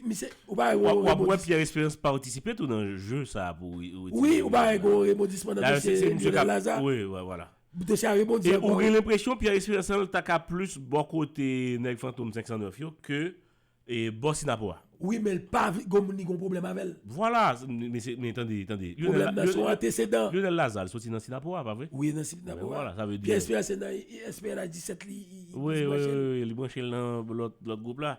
Misye ou pa wè gon rebondisman. Wap wè Pierre Esperance patisipe tou nan jeu sa pou yo retire Lionel. Wi ou pa wè gon rebondisman nan dosye Lionel Lazar. Wi wi wala. Dosye a rebondi ankò. E ou gen lenpresyon Pierre Esperance ta ka plis bò kote nèg fantom 509 yo ke E bò sinapo a. Wi men l pa vle gonm ni gon pwoblèm avè l. Vwala! Mesye, men tande, tande. Pwoblèm nan se yon antesedan. Lyonel Lazarre soti nan Sinapo a, pa vre? Wi, nan Sinapo a. Bon vwala, sa vle di. Pierre Esperance se nan SPNH 17 li branche l. Wi, wi, wi, li branche l nan lòt gwoup la.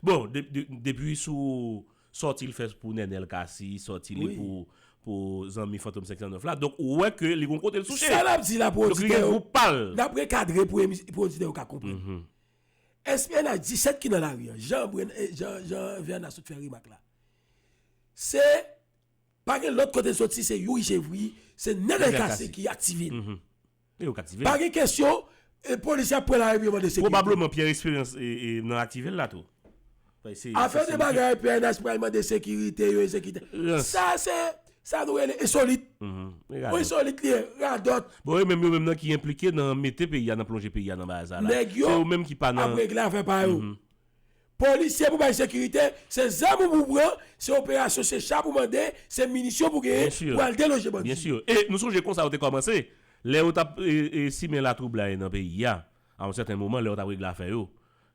Bon, depi sou sòti l fè pou Nenel Cassy, sòti li pou zanmi Fantom 509 la, donk ou wè ke li gon kote l souche. Sa n ap di la pou oditè yo. Donk li gen gwoup pa l. N ap rekadre pou oditè yo ka konprann. SPNH 17 ki nan lari an, jan Verna sot fè remak la, se pa gen lòt kote l soti, se Youri Chevry, se nènèl kase ki aktive l. Pa gen kesyon, polisye ap pran lari pou yo mande sekirite. Pwobableman Pierre Esperance nan aktive l la tou. Afè de bagay pnh pral mande sekirite yo ezekite sa se sa nou rele ensolit ou ensolit li ye radòt. Bon e menm yo menm nan ki enplike nan mete peyi a nan plonje peyi a nan baza la nèg yo ap regle afè pa yo polisye pou bay sekirite se zam ou pou pran se operasyon se cha pou mande se minisyon pou genyen pou al deloje bandi byen sur e nou sonje konsa yo te kòmanse lè yo tap simen latroublay nan peyi a a yon sèten moman lè yo tap regle afè yo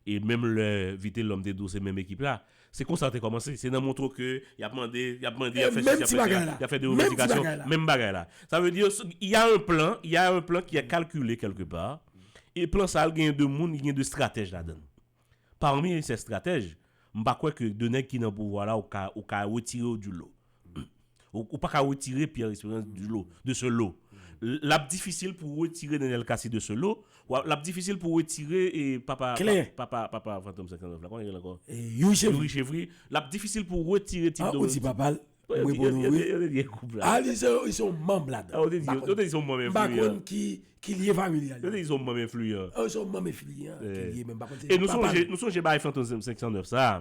E menm lè Vitelòm te di w se menm ekip la, se konsa te kòmanse. Se nan montre w ke y ap mande, y ap mande, y ap fè sisi, y ap fè sela, y ap fè de revandikasyon, menm bagay la. Sa vle di yo, y a un plan, y a un plan ki è kalkile kèlke pa, e plan sa a genyen de moun, li genyen de stratèj ladan l. Pami sè stratèj, m pa kwè ke de nèg ki nan pouvwa la ou ka, ou ka retire yo di lo. Ou paka retire Pierre Esperance de ce lot. L ap difisil pou w retire Nenel Cassy de ce lot. L ap difisil pou w retire papa Fantom 59 la. Kòman li rele ankò? Youri Chevry. L ap difisil pou w retire Tip Dominique. A ou di papa l? Yo te di gen koup la. A li se yon manm la dan. Yo te di se yon manm enfliyan. M pa konn ki lyen familyal. Yo te di se yon manm enfliyan. A ou se yon manm enfliyan ki lyen men m pa konn se papa l. E nou sonje bagay Fantom 509 sa a.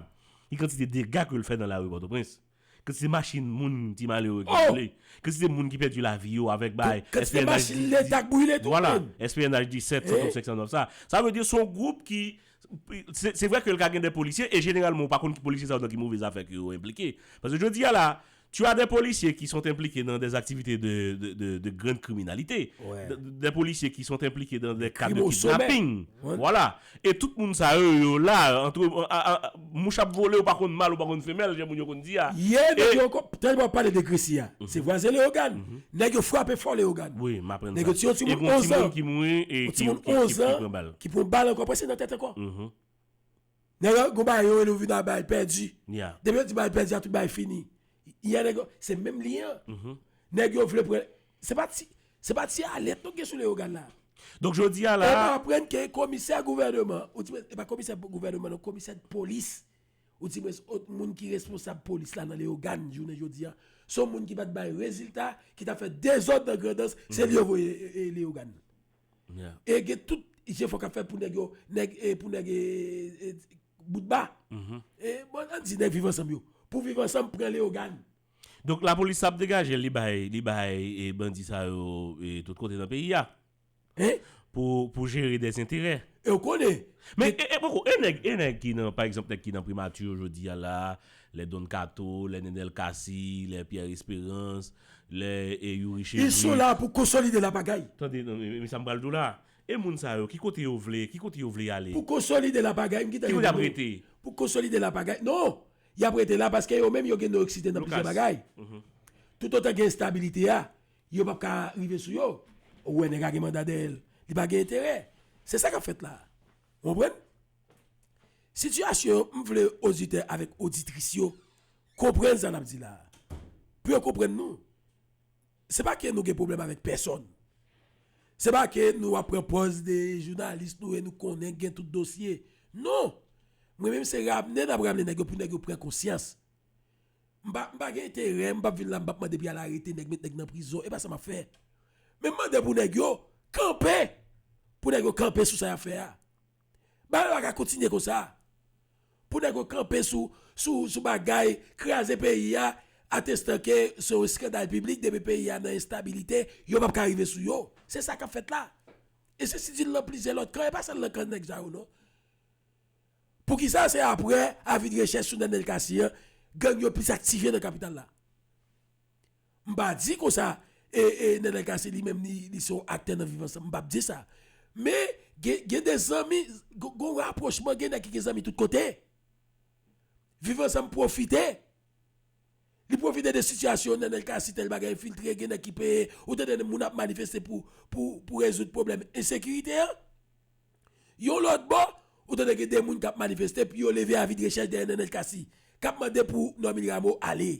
Ki kantite dega ke l fè nan lari Pòtoprens. Ke se machin moun ti malere ki boule, ke se moun ki pèdi lavi yo avèk bay SPNH 17, 130, 509 sa. Sa vle di se yon gwoup ki, se vre ke li ka gen de polisye, e jeneralman ou pa konn ki polisye sa yo nan ki move zafè ke yo enplike. Paske jodi a la, tu as des policiers qui sont impliqués dans des activités de grande criminalité, des policiers qui sont impliqués dans des cas de kidnapping. Voilà. E tout moun sa yo yo la antre mouch ap vole ou pa konn mal ou pa konn femèl jan moun yo konn di a. Ye nèg yo ankò tèlman wap pale de Gresi a se vwazen Leogane nèg yo frape fò Leogane nèg yo tiye yon timoun 11 ans yon timoun 11 ans ki pran bal ankò aprè se nan tèt ankò nèg yo gon bagay yo rele ou vin a bal pèdi depi yo di bal pèdi a tout bagay fini yè nèg yo se menm li an nèg yo vle pran Se pa ti, se pa ti alèt nou gen sou Leyogàn la. Donk jodi a la. E nou aprann ke komisè gouvèneman, ou di mwen, e pa komisè gouvèneman non, komisè polis, ou di mwen, ot moun ki responsab polis la nan Leyogàn jounen jodi a, son moun ki pa t bay rezilta, ki ta fè dezòd nan Grandans, se li yo voye Leyogàn. E gen tout jefò k ap fè pou nèg yo, nèg, pou nèg e, e, boutba, e, bon, an di nèg Viv Ansanm yo, pou Viv Ansanm pran Leyogàn. Donk lapolis sa ap degajel li bay li bay bandi sa yo tout kote nan peyi a pou jere des enterè. Ew konnen. Men poko e nèg e nèg ki nan pa egzanp nèg ki nan primati jodi a la, lè Don Kato, lè Nenel Cassy, lè Pierre Esperance, lè Youri Chedri. Ils sont là pou konsolide la pagay. Tande non men sa m pral di w la. E moun sa yo ki kote yo vle ki kote yo vle ale. Pou konsolide la pagay m ki tande. Ki kote yap rete. Pou konsolide la pagay non Y ap rete la paske yo menm yo gen do eksite nan plizyè bagay. Toutotan gen enstabilite a, yo p ap ka rive sou yo. Ou wè nèg a gen manda dèyè l, li pa gen enterè. Se sa k ap fèt la a. Ou konprann? Sitiyasyon yo, m vle oditè avèk oditris yo konprann sa n ap di la a, pou yo konprann nou. Se pa ke nou gen pwoblèm avèk pèsòn. Se pa ke nou ap pran pòz de jounalis nou e nou konnen gen tout dosye. Non! Mwen menm se ramne n ap ramne nèg yo pou nèg yo pran konsyans. M pa m pa gen enterè, m pa p vin la m pa p mande pou y al arete nèg, met nèg nan prizon. E pa sa m ap fè. Men m mande pou nèg yo kanpe, pou nèg yo kanpe sou sa y ap fè a. Bagay yo pa ka kontinye konsa. Pou nèg yo kanpe sou bagay kraze peyi a atestan ke se yon eskandal piblik depi peyi a nan enstabilite yo pap ka rive sou yo. Se sa kap fèt la. E se sitil nan plizyè lòt kan e pa sèl nan kan nèg sa yo non. Poukisa se aprè avi de rechèch sou Nenel Cassy an gang yo plis aktive nan kapital la. M pa di konsa Nana Cassy li menm li se yon aktè nan viv ansanm, m pap di sa. Men gen de zanmi, gen rapwochman, gen nèg ki gen zanmi tout kote. Viv ansanm pwofite, li pwofite de sitiyasyon Nana Cassy tèl bagay enfiltre, gen nèg ki peye, ou tande moun ap manifeste pou rezoud pwoblèm ensekirite an. Yon lòt bò, ou tande gen de moun k ap manifeste pou yo leve avidrechèch dèyè Nana Cassy, k ap mande pou Normil Rameau ale.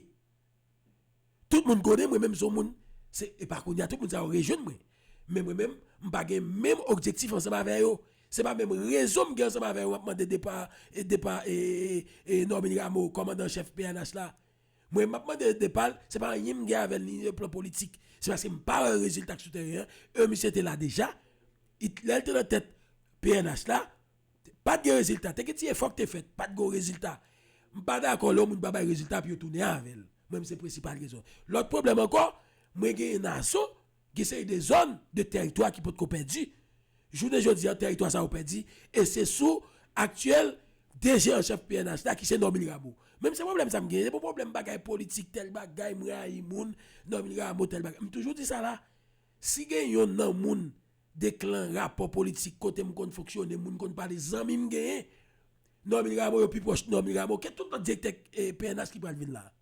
Tout moun konnen mwen menm son moun se epa kounya tout moun sa yo rejwenn mwen. Men mwen menm m pa gen menm objektif ansanm avè yo. Se pa menm rezon m gen ansanm avè yo m ap mande depa e depa e Normil Rameau kòmandan chèf pnh la. Mwen m ap mande depa l se pa anyen m gen avè l ni nan plan politik. Se paske m pa wè rezilta k sou tèren an. E misye te la deja. Lè l te nan tèt pnh la. Pat gen rezilta, te gen ti efò k te fèt, pat gon rezilta. M pa dakò lè yon moun pa bay rezilta pou yo tounen avè l. Mwen menm se prensipal rezon. Lòt pwoblèm ankò, mwen genyen nan Aso, gen seri de zòn, de tèritwa ki potko pèdi. Jounen jodi a, tèritwa sa yo pèdi e se sou aktyèl DG an chèf pnh la ki se Normil Rameau. Mwen menm se pwoblèm sa m genyen, se pa pwoblèm bagay politik, tèl bagay, m rayi moun, Normil Rameau, tèl bagay. M toujou di sa la, si gen yonn nan moun. 2 klan rapò politik kote m konn fonksyone moun konn pale zanmi m genyen Normil Rameau yo pi pwòch Normil Rameau ke tout lòt direktè pnh ki pral vin la a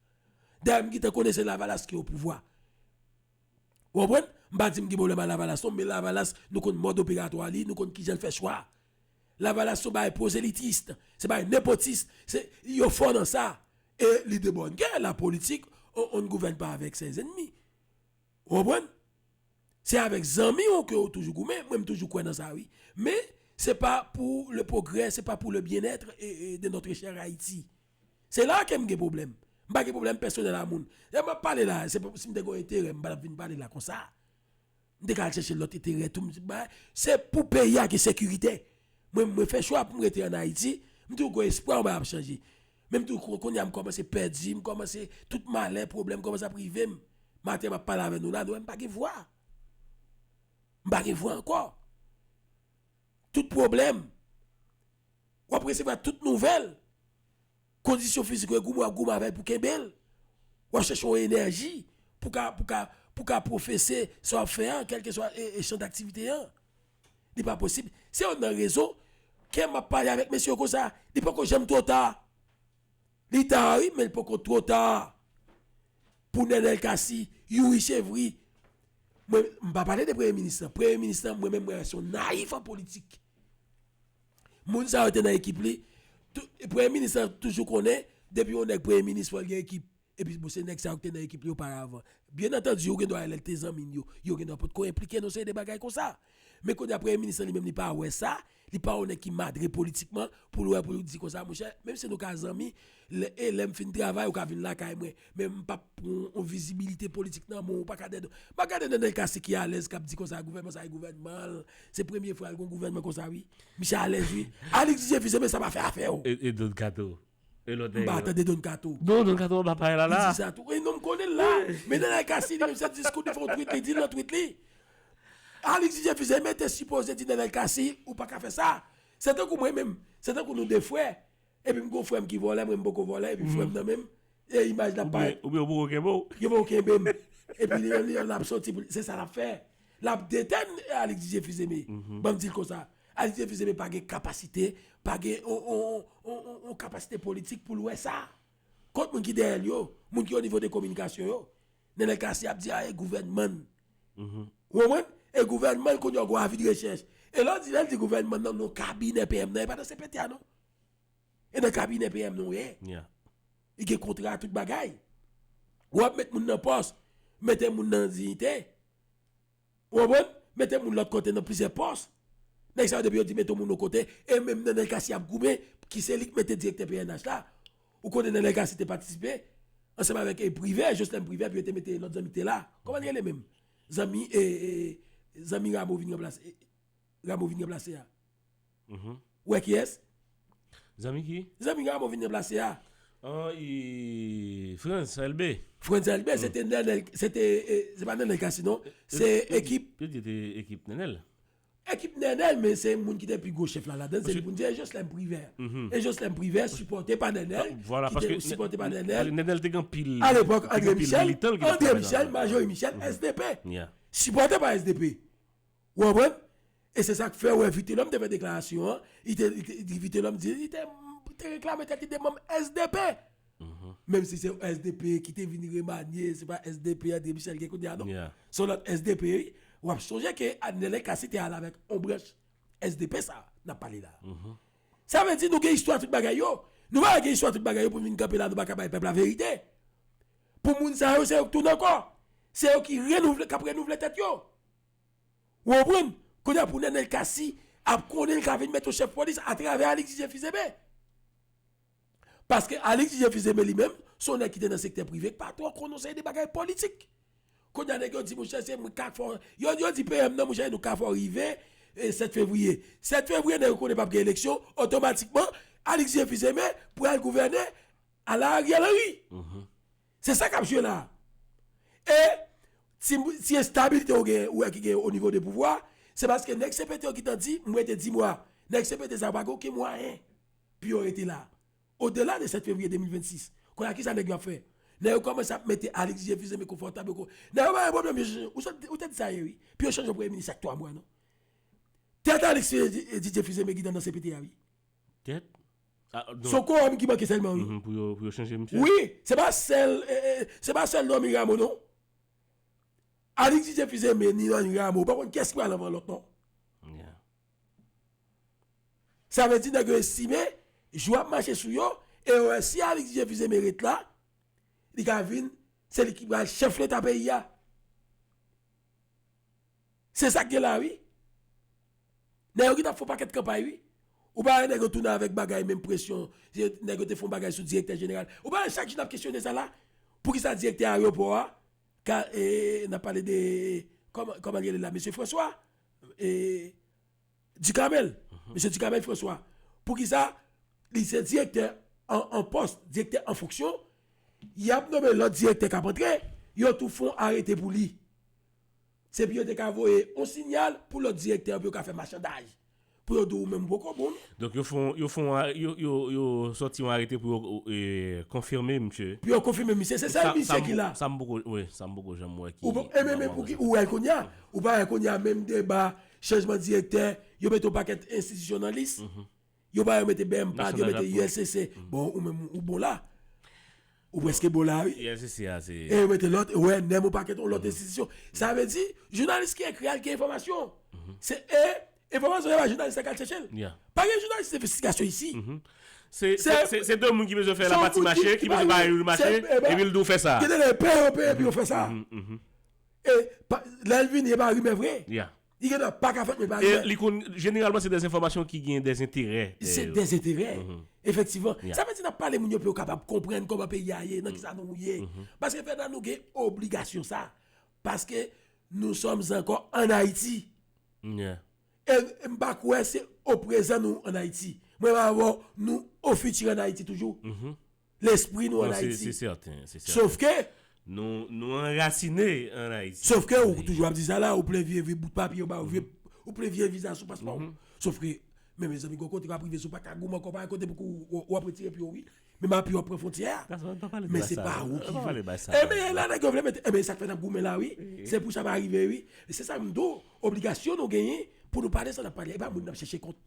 dayè m gentan konnen se lavalas ki opouvwa ou konprann m pa di m gen pwoblèm a lavalas non men lavalas nou konn mòd operatwa li nou konn kijan l fè chwa lavalas son bagay pwozelitist se bagay nepotist se yo fò nan sa e li de bòn gè lapolitik on ne gouverne pas avec ses ennemis. Ou konprann? Se avèk zanmi ou ke ou toujou goumen, mwen m toujou kwè nan sa wi. Men, se pa pou le progrè, se pa pou le byen èt de notre chère Ayiti. Se la ke m gen pwoblèm. M pa gen pwoblèm pèsonèl a moun. Lè m ap pale la, se pou si m te gen yon enterè, m pa tap vin pale la konsa. M te ka al chèche lòt enterè tou, m se bay. Se pou peyi a gen sekirite. Mwen, mwen fè chwa pou m rete an Ayiti, m toujou gen espwa mwen ap chanje. Menm tou kounye a m kòmanse pèdi, m kòmanse tout malè, pwoblèm kòmanse ap rive m. Maten m ap pale avè nou la, nou wè m pa gen vwa. M pa gen vwa ankò. Tout pwoblèm, w ap resevwa tout nouvèl, kondisyon fizik ou e goumen w ap goumen avè l pou kenbe l. W ap chèche yon enèji pou ka pou ka pou ka pwofese sa w ap fè an, kèlkeswa chan daktivite an. Li pa posib. Se yon nan rezon kè map pale avèk mesye yo konsa. Li poko janm two ta. Li ta wi men li poko two ta. Pou Nenel Cassy, Youri Chevry. Mwen mpa pale de premye minis lan. Premye minis lan mwen menm mwen wè se yon nayif an politik. Moun sa yo te nan ekip li. Premye minis lan toujou konnen depi yon nèg premye minis fòl gen ekip. Epi bon se nèg sa yo ki te nan ekip li oparavan. Byen antandi ou gen dwa wè lè li te zanmi n yo, yo gen dwa potko enplike nan yon seri de bagay konsa. Men kounye a premye minis lan li menm li pa wè sa, li pa yon nèg ki madre politikman pou l wè pou l di konsa monchè menm si nou ka zanmi, lè e lè m fin travay ou ka vin lakay mwen men m pap pran yon vizibilite politik nan men w pa ka dèdè w. Map gade Nenel Cassy ki alèz kap di konsa gouvènman sa e gouvènman l, se premye fwa l gen yon gouvènman konsa wi. Misye alèz wi. Alix Jésus se men sa pa fè afè w. Edon Kato, E lot nèg yo. M pa tande Don kato. Non Don kato anba pay la la. Li di sa tou. Wi non m konnen l la. Men Neray Cassini menm se diskou li fè yon tweet li di l nan tweet li. Alix Jefuse men te sipoze di Neray Cassi ou pa ka fè sa. Se tankou mwen menm. Se tankou nou 2 frè. Epi m gen yon frè m ki vòlè mwen m poko vòlè epi frè m nan menm e imaj la parèt. Oubyen ou poko kenbe w. Yo poko kenbe m. Epi li menm li menm l ap soti pou l se sa l ap fè. Lap detenn Alix Didier Fils Aimé. Banm dil konsa. Alix Didier Fils Aimé pa gen kapasite, pa gen yon kapasite politik poul wè sa. Kot moun ki dèyèl yo? Moun ki o nivo de kominikasyon yo? Nenel Cassy ap di a e gouvènmann. Ou konprann? E gouvènmann kounye a ou gon avi de rechèch. E lè ou di lè l di gouvènmann nan non kabinè PM nan e pa nan CPTA non. E nan kabinè PM nan ou ye. Li gen kontra tout bagay. Ou ap met moun nan pòs, mete moun nan diyite. Ou konprann? Mete moun lòt kote nan plizyè pòs. Nèg sa yo depi yo di mete yon moun yon kote, e menm Nenel Cassy ap goumen pou ki se li ki mete direktè pnh la. Ou konnen Nenel Cassy te patisipe ansanm avèk Privè, Joslèn Privè pou yo te mete lòt zanmi ki te la. Kòman li rele menm? Zanmi e zanmi Rameau vin ranplase, Rameau vin ranplase a. Ou wè kiyès? Zanmi ki? Zanmi Rameau vin ranplase a. An e Frantz Elbé. Frantz Elbé se te Nenel, se te, se pa Nenel Cassy non, se ekip. Yo di se te ekip Nenel. Ekip Nenel men se moun ki te pi gwo chèf la ladan, se li pou n di e Joslèm Privè. E Joslèm Privè sipòte pa Nenel, ki te sipòte pa Nenel. Nenel te gen anpil, te gen anpil militan l ki te travay nan. A lepòk André Michel, André Michel, Majori Michel, SDP. Sipòte pa SDP. Ou konprann? E se sa k fè ou wè Vitelhomme te fè deklarasyon an, li te, Vitelhomme di, li te reklame tèt li te manm SDP! Menm si se yon SDP ki te vin remanye, se pa SDP André Michel gen kounye a non. Se yon lòt SDP wi. W ap sonje ke Anele Cassy te ale avèk yon branch SDP sa a n ap pale la a. Sa vle di nou gen istwa tout bagay yo. Nou pa ka gen istwa tout bagay yo pou nou vin kanpe la a nou pa ka bay pèp la verite. Pou moun sa yo se yo k tounen ankò. Se yo ki renouvle, k ap renouvle tèt yo. Ou konprann? Kounye a pou Nenel Cassy ap konnen li ka vin mèt yon chèf polis atravè Alix Didier Fils-Aimé. Paske Alix Didier Fils-Aimé li menm, se yon nèg ki te nan sektè prive ki pa twò konn yon seri de bagay politik. Kounye a nèg yo di mouche se mwen k'ap fè w, yo yo di PM nan mouche nou ka fè w rive 7 fevriye. 7 fevriye nèg yo konnen p'ap gen eleksyon, otomatikman Alix Didier Fils-Aimé pral gouvène ala Ariel Henry. Se sa kap jwe la. E ti enstabilite ou gen, ou wè ki gen o nivo de pouvwa, se paske nèg CPT yo ki te di, mwen te di mwa, nèg CPT sa yo pa gen oken mwayen pou yo rete la. O dela de 7 fevriye 2026. Kounye a kisa nèg yo ap fè? Nèg yo kòmanse ap mete Alix je fize men konfòtab yo. Nèg yo pa gen pwoblèm yo chanje, ou sot, ou te di sa ye wi. Pou yo chanje yon premye minis chak 3 mwa non. Tèt Alix je fize men ki te nan CPT a wi. Tèt Son korom ki manke selman wi. Pou yo chanje misye. Wi se pa sel se pa sel Normil Rameau non. Alix Didier Fils Aimé ni Normil Rameau pa konn kiyes ki pral anvan lot non. Sa vle di neg yo estime jou ap mache sou yo e yo wè si Alix Didier Fils Aimé ret la li ka vin se li ki pral chef leta peyi a. Se sak gen la wi. Nèg yo ki tap fon pakèt kanpay wi. Ou pa wè nèg yo tounen avèk bagay menm presyon nèg yo te fon bagay sou direktè jeneral. Ou pa wè chak jou nap kesyone sa la. Poukisa direktè ayewopò a ka nap pale de kòman li rele la mesye François Ducamel mesye Ducamel François poukisa li se direktè an pòs direktè an fonksyon yap nome lòt direktè kap antre yo tou fon arete pou li. Se pou yo te ka voye yon sinyal pou lòt direktè yo pou yo ka fè machandaj. Pou yo di w menm ou poko bon non. Donk yo fon, yo fon, yo sòti yon arete pou yo konfime misye. Pou yo konfime misye. Se sèl misye ki la. Sa m poko, wi, sa m poko janm wè ki. Ou poko, enben men pouki ou wè l kounya? Ou pa wè kounya menm deba chanjman direktè, yo mete yon pakèt enstitisyon nan lis. Yo ba yo mete bmp la yo mete ulcc bon ou menm ou bon la ou preske bon la wi ulcc a se e yo mete lot wè nem ou paket on lot enstitisyon sa vle di jounalis ki ekri a li gen enfomasyon se e enfomasyon yo ba jounalis la ki al chèche l pa gen jounalis envestigasyon isi se se de moun ki bezwen fè la pati mache ki bezwen bay yon mache epi l di w fè sa gen de lè yo peye yo peye epi yo fè sa e lè l vini e pa rimè vre Li gen dwa pa ka fèt men pa gen. E li konn, jeneralman se dè enfòmasyon ki gen dè enterè dèyè yo. Se dè enterè, efektivman. Sa vle di n ap pale moun yo pou yo kapab konprann kòman peyi a ye, nan ki sa nou ye. Paske Fènan nou gen obligasyon sa. Paske nou sòm ankò ann Ayiti. E m pa kwè se o prezan nou ann Ayiti. Mwen pa wè nou o fiti ann Ayiti toujou. lespri nou an Ayiti. Sofke. Nou anrasine an Ayiti. Sofke ou toujou ap di sa la, ou plen vye vye bout papye yo ba ou, ou plen vye viza sou paspò ou. Sofke, men mezanmi gon kote wap rive sou paka goumen ankò, pa gen kote pou wap retire pye ou wi. Menm apui wap pran fwontyè a. Men se pa ou ki vle. Enben e la nèg yo vle mete, enben e sa k fè n ap goumen la wi. Se pou sa pa rive wi. Se sa m di w, obligasyon nou genyen pou nou pale sa n ap pale. E pa moun n ap chèche kont.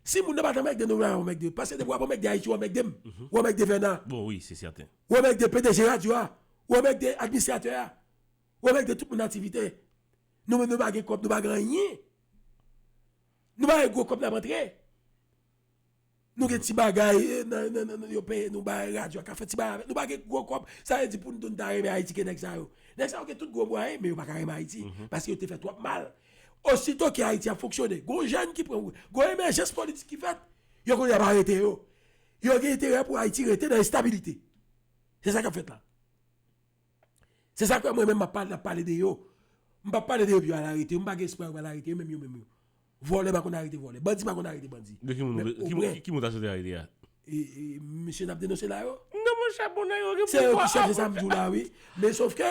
Si moun nan pat anmèkde nou nan anmèkde paske depi wap anmèkde Ayiti ou anmèkde m ou anmèkde Fèna Bon wi se sèten. Ou anmèkde pdg radyo a ou anmèkde administratè a ou anmèkde tout moun aktivite nou menm nou pa gen kòb nou pa gen anyen nou pa gen gwo kòb nap antre nou gen ti bagay nan yo peye nou bay radyo a ka fè ti bagay avèl nou pa gen gwo kòb sa vle di poun nou ta renmen Ayiti gen nèg sa yo nèg sa yo gen tout gwo mwayen men yo paka renmen Ayiti paske yo te fè twòp mal. Osito ke Ayiti ap fonksyone, gon jèn ki pran, gon emèjans politik ki fèt, yo konn ap arete yo. Yo gen enterè pou Ayiti rete nan enstabilite. Se sa kap fèt la. Se sa k fè mwen menm map pale, ap pale de yo. M pap pale de yo pou yo al arete yo. M pa gen espwa yo pral arete yo menm yo menm yo. Vòlè pa konn arete vòlè. Bandi pa konn arete bandi. Ki moun ta swete arete a? E mesye nap denose la yo? Non monchè bon nèg yo gen pouvwa. Se yo ki chef se sa mdi w la wi. Men sof ke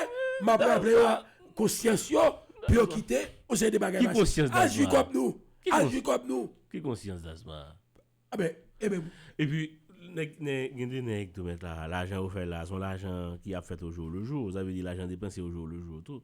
map raple yo konsyans yo pou yo kite yon seri de bagay pase. Ki konsyans Dasma? Al jwi kob nou. Al jwi kob nou. Ki konsyans Dasma? A ben, e ben. E pi nèg gen de nèg tou mèt la, lajan yo fè la son lajan ki ap fèt ojou lejou, sa vle di lajan depanse ojou lejou tou.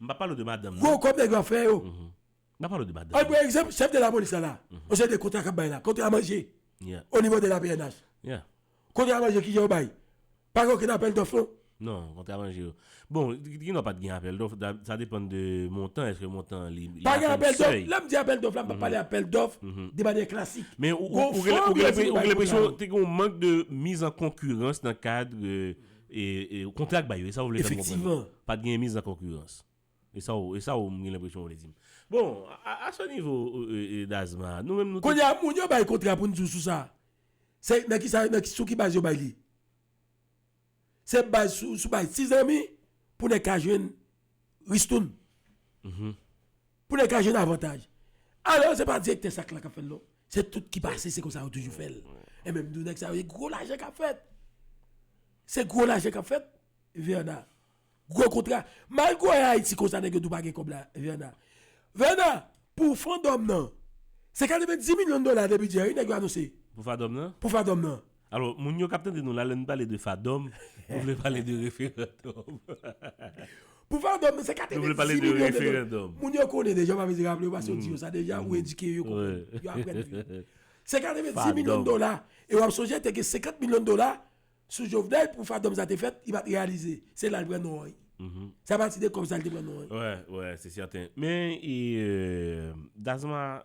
M pa pale w de madanm nan. Gwo kòb nèg yo ap fè yo. M pa pale w de madanm nan. An pran egzanp chèf de la polis la la. Yon seri de kontra k ap bay la. Kontra manje o nivo de la pnh. Kontra manje ki jan yo bay? Pa gen okenn apèl dòf non. Non, kontra manje yo. Bon, gen dwa pa t gen apèl dòf. Sa depann de montan. Èske montan an li atenn sèy? Pa gen apèl dòf. Lè m di apèl dòf la, m pa pale apèl dòf de manyè klasik. Men ou gen lenpresyon te gen yon mank de miz an konkirans nan kad. E ou kontre ak bayo, e sa ou vle fè m konprann lan? Pa t genyen miz an konkirans. E sa ou, e sa ou m gen lenpresyon ou vle di m. Bon, a se nivo Dazman a, nou menm nou te. Kounye a, moun yo bay kontra pou n di w sou sa a, se nan ki sa, sou ki baz yo bay li? Se baz sou, sou baz ti zanmi pou nèg ka jwenn ristoun. Pou nèg ka jwenn avantaj. Alò se pa direktè sak la kap fèl non. Se tout ki pase se konsa yo toujou fèl. E menm nou nèg sa yo se gwo lajan kap fèt. Se gwo lajan kap fèt Verna. Gwo kontra. Mal gwo e Haiti konsa nèg yo tou pa gen kòb la Verna. Verna pou fandòm nan. Se 90 milyon dola de bidjè wi nèg yo anonse. Pou fadòm nan? Pou fadòm nan. Alò, moun yo k ap tande nou la, lè n pale de FADOM, nou vle pale de referandòm. Pou FADOM nou se 4 e de 10 milyon de dola. Moun yo konnen deja, ou pa bezwen raple yo paske yo di yo sa deja, ou edike yo, yo konprann, yo aprann vit. Se 4 e de 10 milyon de dola, e w ap sonje te gen 50 milyon de dola sou Jovenel pou FADOM sa te fèt, li pa t reyalize. Se la l pran non an ye. Se apati de kòb sa l te pran non an ye. Wè, wè, se sèten. Men, Dazman,